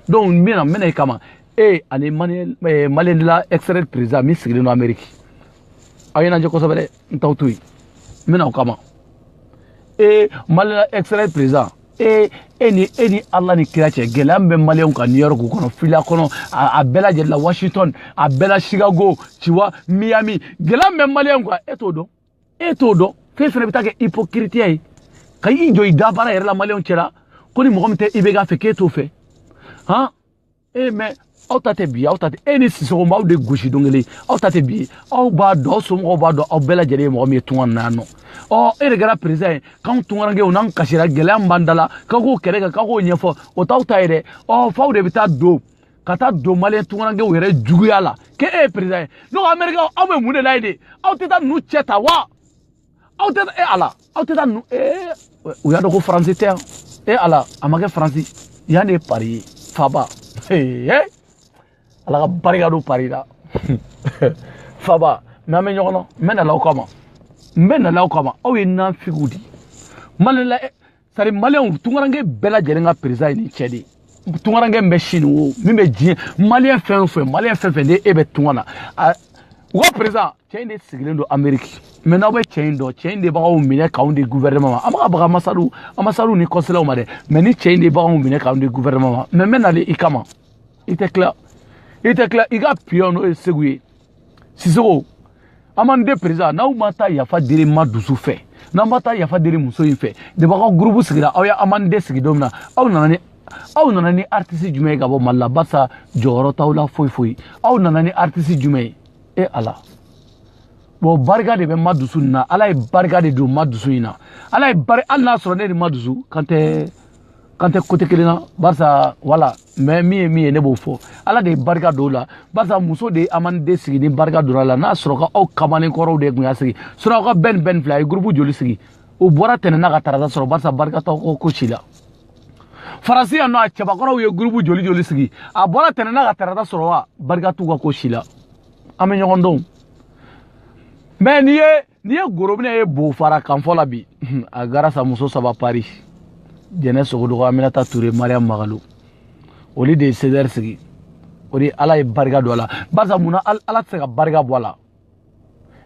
donc n bɛna n bɛna i kama e ani maliens de l'extérieur président min sigilen don ameriki aw ye n lajɛ kosɛbɛ dɛ n t'aw to yen n bɛna aw kama e maliens de l'extérieur président e e ni e ni ala ni kira cɛ gɛlɛya min bɛ maliyɛnw kan new york kɔnɔ fila kɔnɔ a bɛɛ lajɛlen la washington a bɛɛ la chicago ayiwa miami gɛlɛya min bɛ maliyɛnw kan e t'o dɔn e t'o dɔn f'e fana bɛ taa kɛ ipokiritiya ye ka i jɔ i da baara yɛrɛ la maliyɛnw cɛla ko ni mɔgɔ min tɛ i bɛ k'a fɛ k'e t'o fɛ han e mɛ aw ta tɛ bi aw ta tɛ e ni sisoko n b'aw de gosi don kelen aw ta tɛ bi aw b'a dɔn aw somɔgɔw b'a dɔn aw bɛɛ lajɛlen ye mɔgɔ min ye tunga na yan nɔ ɔ e de kɛra perezan ye k'anw tungarankew n'an kasira gɛlɛya min b'an da la k'aw k'o kɛlɛ kɛ k'aw k'o ɲɛfɔ o t'aw ta ye dɛ ɔ f'aw de bɛ taa don ka taa don maliyɛn tungarankew yɛrɛ juguya la k'e e ye perezan ye ne ko amerikɛnw aw bɛ mun de la yen de aw tɛ taa ninnu cɛ ta wa aw tɛ e ala aw tɛ taa ninnu ee u y'a dɔn ko faransi tɛ yan e ala a ma kɛ faransi yan de ye pari ye faba ee ala ka barika don pari la faba mɛ an bɛ ɲɔgɔn na n bɛ na aw kama n bɛ na aw kama aw ye nafigiw de ye maliens de l'extérieur maliyɛnw tunkaranke bɛɛ lajɛlen ka perezan ye nin cɛ de ye tunkaranke min bɛ sini o min bɛ diɲɛ maliyɛn fɛn o fɛn maliyɛn fɛn o fɛn ni e bɛ tunga na u ka perezan cɛ in de sigilen don ameriki mɛ n'aw bɛ cɛ in dɔn cɛ in de b'anw minɛ k'anw di guvɛrɛnɛma ma an b'a ka baga anbasadiw anbasadiw ni kɔnsilaw ma dɛ mɛ nin cɛ in de b'anw minɛ k'anw di guvɛrɛnɛma ma mɛ n bɛ na i kama i tɛ tila i tɛ tila i ka piyɔn n'o ye seku ye sisoko amani deux perezan n'aw ma taa yafa deli madusu fɛ n'aw ma taa yafa deli muso in fɛ depuis aw ka gurupu sigira aw ye amani deux sigi don min na aw nana ni aw nana ni aritisi jumɛn ye ka bɔ mali la barisa jɔyɔrɔ t'aw la foyi foyi aw nana ni aritisi jumɛn ye e ala bon barika de bɛ madusu nin na ala ye barika de don madusu in na ala ye bari hali n'a sɔrɔ ne de madusu an tɛ k'an tɛ kote kelen na barisa wala mɛ min ye min ye ne b'o fɔ ala de ye barika don a la barisa muso de ye amaniden sigi ni barika donna a la n'a sɔrɔ ko aw kamanen kɔrɔw de tun y'a sigi sɔrɔ aw ka bɛn bɛn fila a ye gurupu joli sigi u bɔra tɛnɛn na ka tarata sɔrɔ barisa barika t'aw ka ko si la faransi yan nɔ a cɛbakɔrɔw ye gurupu joli joli sigi a bɔra tɛnɛn na ka tarata sɔrɔ wa barika t'u ka ko si la an bɛ ɲɔgɔn dɔn mɛ n'i ye n'i ye gorobinɛ ye bo fara kanfɔ la bi a grâce à muso saba pari jɛnɛ sogodogo aminata ture mariam magalo olu de ye cdr sigi o de ala ye barika don a la barisa mun na ala tɛ se ka barika bɔ a la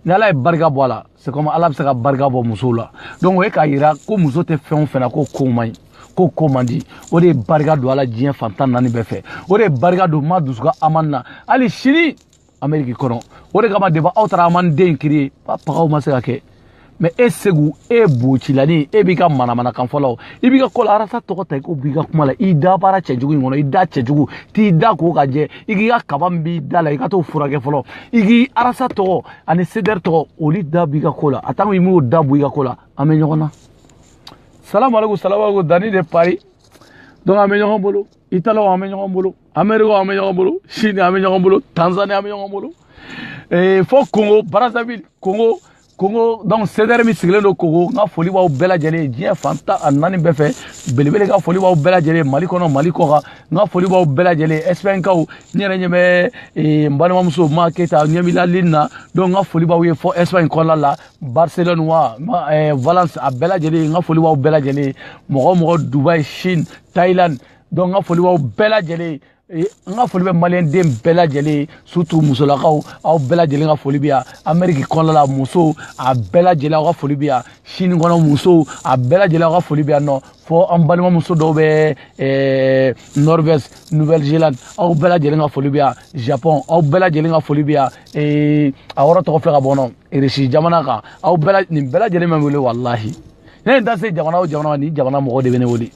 ni ala ye barika bɔ a la c'est comme ala bɛ se ka barika bɔ musow la donc o ye k'a yira ko muso tɛ fɛn o fɛn na k'o ko man ɲi k'o ko man di o de ye barika don a la diɲɛ fan tan ni naani bɛɛ fɛ o de ye barika don madusu ka amani na hali sini ameriki kɔnɔ o de kama depa aw taara amaniden kiri pagaw ma se ka kɛ mɛ e segu e bocilani e b'i ka manamanakan fɔlɔ i b'i ka kɔlɔ arasa tɔgɔ ta i ko b'i ka kuma la i dabara cɛjugu in kɔnɔ i da cɛjugu t'i da ko k'a jɛ i k'i ka kaba min b'i da la i ka t'o furakɛ fɔlɔ i k'i arasa tɔgɔ ani sedɛri tɔgɔ olu da bɔ i ka ko la a tant que i m'o da bɔ i ka ko la an bɛ ɲɔgɔn na salamu aleykum salamu aleykum dani de pari donc an bɛ ɲɔgɔn bolo italikaw an bɛ ɲɔgɔn bolo amerika an bɛ ɲɔgɔn bolo sini an bɛ ɲɔgɔn bolo tanzani an bɛ ɲɔgɔn bolo ee fo kongo brazzaville kongo kongo donc sedɛri min sigilen don kongo n ka foli b'aw bɛɛ lajɛlen ye diɲɛ fan tan ani naani bɛɛ fɛ belebele ka foli b'aw bɛɛ lajɛlen ye mali kɔnɔ mali kɔkan n ka foli b'aw bɛɛ lajɛlen ye ɛsipɛnkaw n yɛrɛ ɲɛ bɛ eh, n balimamuso ma keyita ɲɛ b'i la lini na donc n ka foli b'aw ye fɔ ɛsipɛni kɔnɔna la barcelone wa eh, valence a bɛɛ lajɛlen n ka foli b'aw bɛɛ lajɛlen ye mɔgɔ o mɔgɔ dubai chine thailand donc n ka foli b'aw bɛɛ lajɛlen ye n ka foli bɛ maliyɛnden bɛɛ lajɛlen ye surtout musolakaw aw bɛɛ lajɛlen ka foli bɛ yan ameriki kɔnɔna la musow a bɛɛ lajɛlen aw ka foli bɛ yan sini kɔnɔ musow a bɛɛ lajɛlen aw ka foli bɛ yan nɔ fɔ an balimamuso dɔw bɛ eh, norvège nouvelle zélande aw bɛɛ lajɛlen ka foli bɛ yan japon aw bɛɛ lajɛlen ka foli bɛ yan eh, a yɔrɔ tɔgɔ filɛ ka bɔ n kɔnɔ irisi jamana kan aw bɛɛ nin bɛɛ lajɛlen bɛ n wele walahi ne ye n da se jamana o jamana ma nin jamana mɔgɔ de bɛ ne wele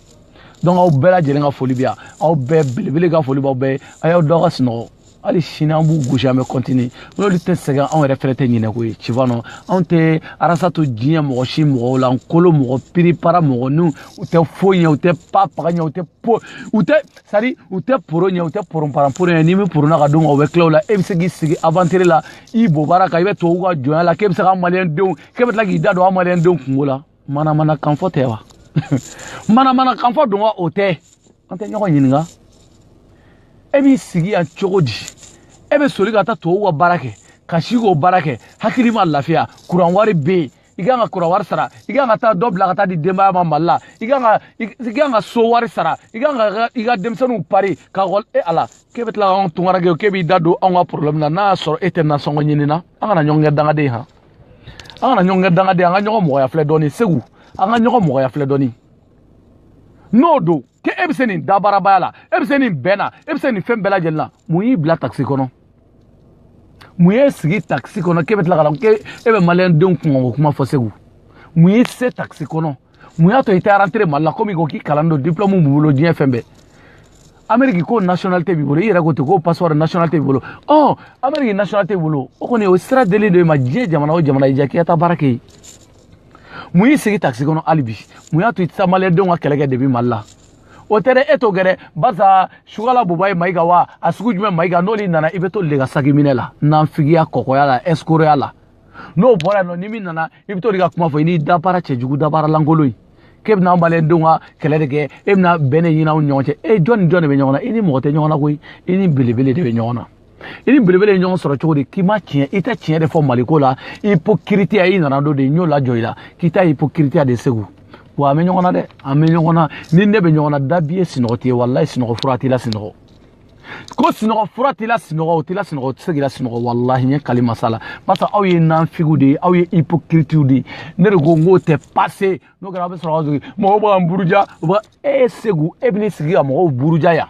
donc aw bɛɛ lajɛlen ka foli bɛ yan aw bɛɛ belebele ka foli b'aw bɛɛ ye a y'aw da ka sunɔgɔ hali sini an b'u gosi an bɛ kɔntini n'olu tɛ sɛgɛn anw yɛrɛ fɛnɛ tɛ ɲinɛ ko ye cifanɔ anw tɛ arasa to diɲɛ mɔgɔ si mɔgɔ lankolon mɔgɔ piripara mɔgɔ n'u u tɛ foyi ɲɛ u tɛ pa paga ɲɛ u tɛ po u tɛ sari u tɛ poro ɲɛ u tɛ poronparan poro ɲɛ n'i bɛ porona ka d'u ma u bɛ tila o la e bɛ se k'i sigi aventure la i bobara kan i bɛ tubabu ka jɔnya la k'e bɛ se ka maliyɛn denw k'e bɛ tila k'i da don an maliyɛn denw kungo la manamana kanfɔ tɛ wa manamana kanfɔ don wa o tɛ an tɛ ɲɔgɔn ɲininka e b'i sigi yan cogo di e bɛ soli ka taa tubabuw ka baara kɛ ka si k'o baara kɛ hakili ma lafiya kuran wari bɛ yen i kan ka kuran wari sara i kan ka taa dɔ bila ka taa di denbaya ma mali la i kan ka i kan ka so wari sara i kan ka i ka denmisɛnninw pari ka kɔl e ala k'e bɛ tila ka anw tunkaranke k'e b'i da don anw ka problème na n'a y'a sɔrɔ e tɛ nasɔngɔ ɲini na an kana ɲɔgɔn kɛ dangaden han an kana ɲɔgɔn kɛ dangaden an ka ɲɔgɔn mɔgɔya filɛ dɔɔni segu an ka ɲɔgɔn mɔgɔya filɛ dɔɔni n'o don k'e e bɛ se nin dabaarabaya la e bɛ se nin bɛn na e bɛ se nin fɛn bɛɛ lajɛlen na mun y'i bila takisi kɔnɔ mun y'e sigi takisi kɔnɔ k'e bɛ tila ka na k'e e bɛ maliyɛndenw kunkanko kuma fɔ segu mun y'i se takisi kɔnɔ mun y'a to i tɛ rentrer mali la komi ko k'i kalan don diplɔmu b'i bolo diɲɛ fɛn bɛɛ ameriki ko nationalité b'i bolo i yɛrɛ ko ten ko passeport nationalité b'i bolo ɔ ameriki nationalité b'i bolo o kɔni o sira dilen d'e ma diɲɛ jamana o jamana i ja k'i ka taa baara kɛ yen mun y'i sigi takisi kɔnɔ hali bi mun y'a to i tɛ taa maliyɛndenw ka kɛlɛ kɛ depuis mali la o tɛ dɛ e t'o kɛ dɛ barisa sugala bubɛyi mayiga wa a sugu jumɛn mayiga n'olu nana i bɛ t'olu de ka sakiminɛ la nanfigiya kɔkɔya la ɛsikoroya la n'o bɔra yen nɔ ni min nana i bɛ t'o de ka kuma fɔ i n'i dabaara cɛjugu dabaara lankolon ye k'e bɛna an maliyɛndenw ka kɛlɛ de kɛ e bɛna bɛn de ɲini anw ɲɔgɔn cɛ e jɔn ni jɔn de bɛ ɲɔgɔn na i ni mɔgɔ tɛ ɲɔgɔn na koyi i ni belebele de bɛ ɲɔgɔn na i ni belebele ye ɲɔgɔn sɔrɔ cogo di k'i ma tiɲɛ i tɛ tiɲɛ de fɔ maliko la hypocritiya i nana don de n y'o lajɔ i la k'i ta hypocritiya de segu wa an bɛ ɲɔgɔn na dɛ an bɛ ɲɔgɔn na ni ne bɛ ɲɔgɔn na dabi ye sinɔgɔ tɛ ye walayi sinɔgɔ fura t'i lasinɔgɔ ko sinɔgɔ fura t'i lasinɔgɔ o t'i lasinɔgɔ o tɛ se k'i lasinɔgɔ walahi n ye kali masa la barisa aw ye nanfigiw de ye aw ye hypocritiw de ye ne de ko n k'o tɛ passe n'o kɛra aw bɛ sɔrɔ aw sigi mɔgɔw bɛ ka n buruja u bɛ e segu e bɛ n'i sigi ka mɔgɔw buruja yan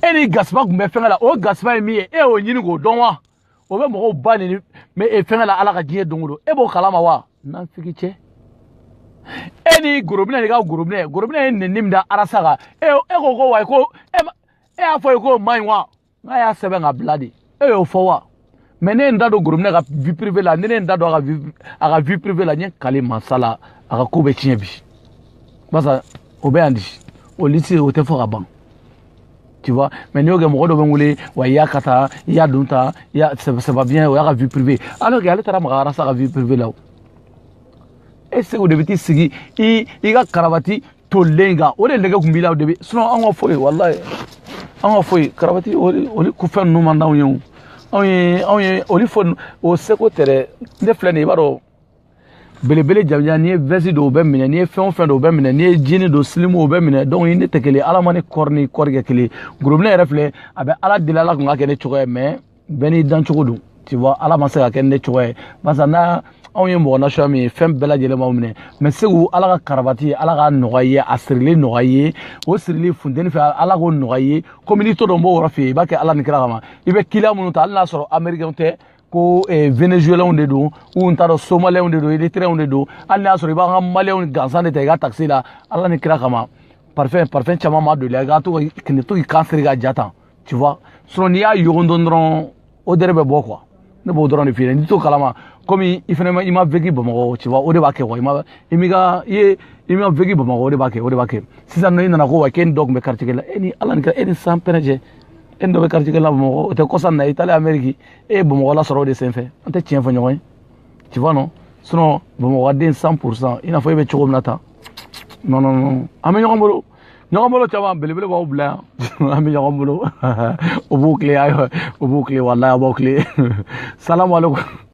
e ni gasiba tun bɛ fɛngɛ la o gasiba ye min ye e y'o ɲini k'o dɔn wa o bɛ mɔgɔw ba nɛni fɛngɛ la ala ka diɲɛ don o don e b'o kalama wa nanfigicɛ e ni gorobinɛ de ka gorobinɛ gorobinɛ ye nɛni min da arasa kan e e ko ko wayi ko e e y'a fɔ ye k'o man ɲi wa n k'a y'a sɛbɛn ka bila de e y'o fɔ wa mais ne ye n da don gorobinɛ ka vie privée la ne ne ye n da don a ka vie a ka vie privée la n ye kali mansa la a ka ko bɛ tiɲɛ bi barisa o bɛ yan di o lisi o tɛ fɔ ka ban tu vois mais n'i y'o kɛ mɔgɔ dɔ bɛ wuli wa i y'a ka taa i y'a don ta i y'a sɛbɛ sɛbɛ bien o y'a ka vie privée alors que ale taara maga arasa ka vie privée la o e segu de bɛ t'i sigi i i ka karabati tolilen kan o de nɛgɛ kun b'i la o de bɛ sinon an ka foyi walayi an ka foyi karabati o de o de ko fɛn ninnu man d'anw ye o anw ye anw ye olu fɔ o seko tɛ dɛ ne filɛ nin ye i b'a dɔn belebele jamanjan n'i ye vɛsi don o b'i minɛ n'i ye fɛn o fɛn don o b'i minɛ n'i ye jini don silimu o b'i minɛ donc i ni ne tɛ kelen ala ma ne kɔri ni kɔri kɛ kelen gorobinɛ yɛrɛ filɛ a bɛ ala deli ala tun k'a kɛ ne cogoya ye mais bɛɛ n'i dan cogo don tu vois ala ma se ka kɛ ne cogoya ye barisa n'a anw ye mɔgɔ nasuya min ye fɛn bɛɛ lajɛlen b'an minɛ mais segu ala ka karabati ala k'a nɔgɔya i ye a sirili nɔgɔya i ye o sirili funteni fɛ ala k'o nɔgɔya i ye komi n'i to dɔn b'o yɔrɔ fɛ yen i b'a kɛ ala ni kira kama i bɛ kiliyan minnu ta hali n'a sɔrɔ amerikɛnw tɛ ko eh, venezuelɛnw de don u n t'a dɔn somalɛnw de don eritrɛnw de don hali n'a y'a sɔrɔ i b'an ka maliyɛnw gansan de ta i ka takisi la ala ni kira kama parfɛn parfɛn caman ma doli i ka to ka kile to k'i kan siri ka ja tan tu vois sinon n'i y'a yogon dɔɔnin dɔrɔn odeur bɛ bɔ quoi ne b'o dɔrɔn de f'i ye n'i t'o kalama komi i fana i ma vécu bamakɔ tu vois o de b'a kɛ quoi i ma i m'i ka i ye i ma vécu bamakɔ o de b'a kɛ o de b'a kɛ sisan i nana ko wa k'e ni dɔ tun bɛ quartier kelen la e ni ala ni kira e ni san pɛrɛn cɛ e ni dɔ bɛ quartier kelen la bamakɔ o tɛ kɔsa na i taalen ameriki e ye bamakɔla sɔrɔ o de senfɛ an tɛ tiɲɛ fɔ ɲɔgɔn ye tu vois non sinon bamakɔden 100 pour cent i n'a fɔ e bɛ cogo min na tan non non non an bɛ ɲɔgɔn bolo ɲɔgɔn bolo caman belebelebaw bila yan an bɛ ɲɔgɔn bolo o b'u tile ayiwa o b'u tile walayi a b'aw tile salamu aleykum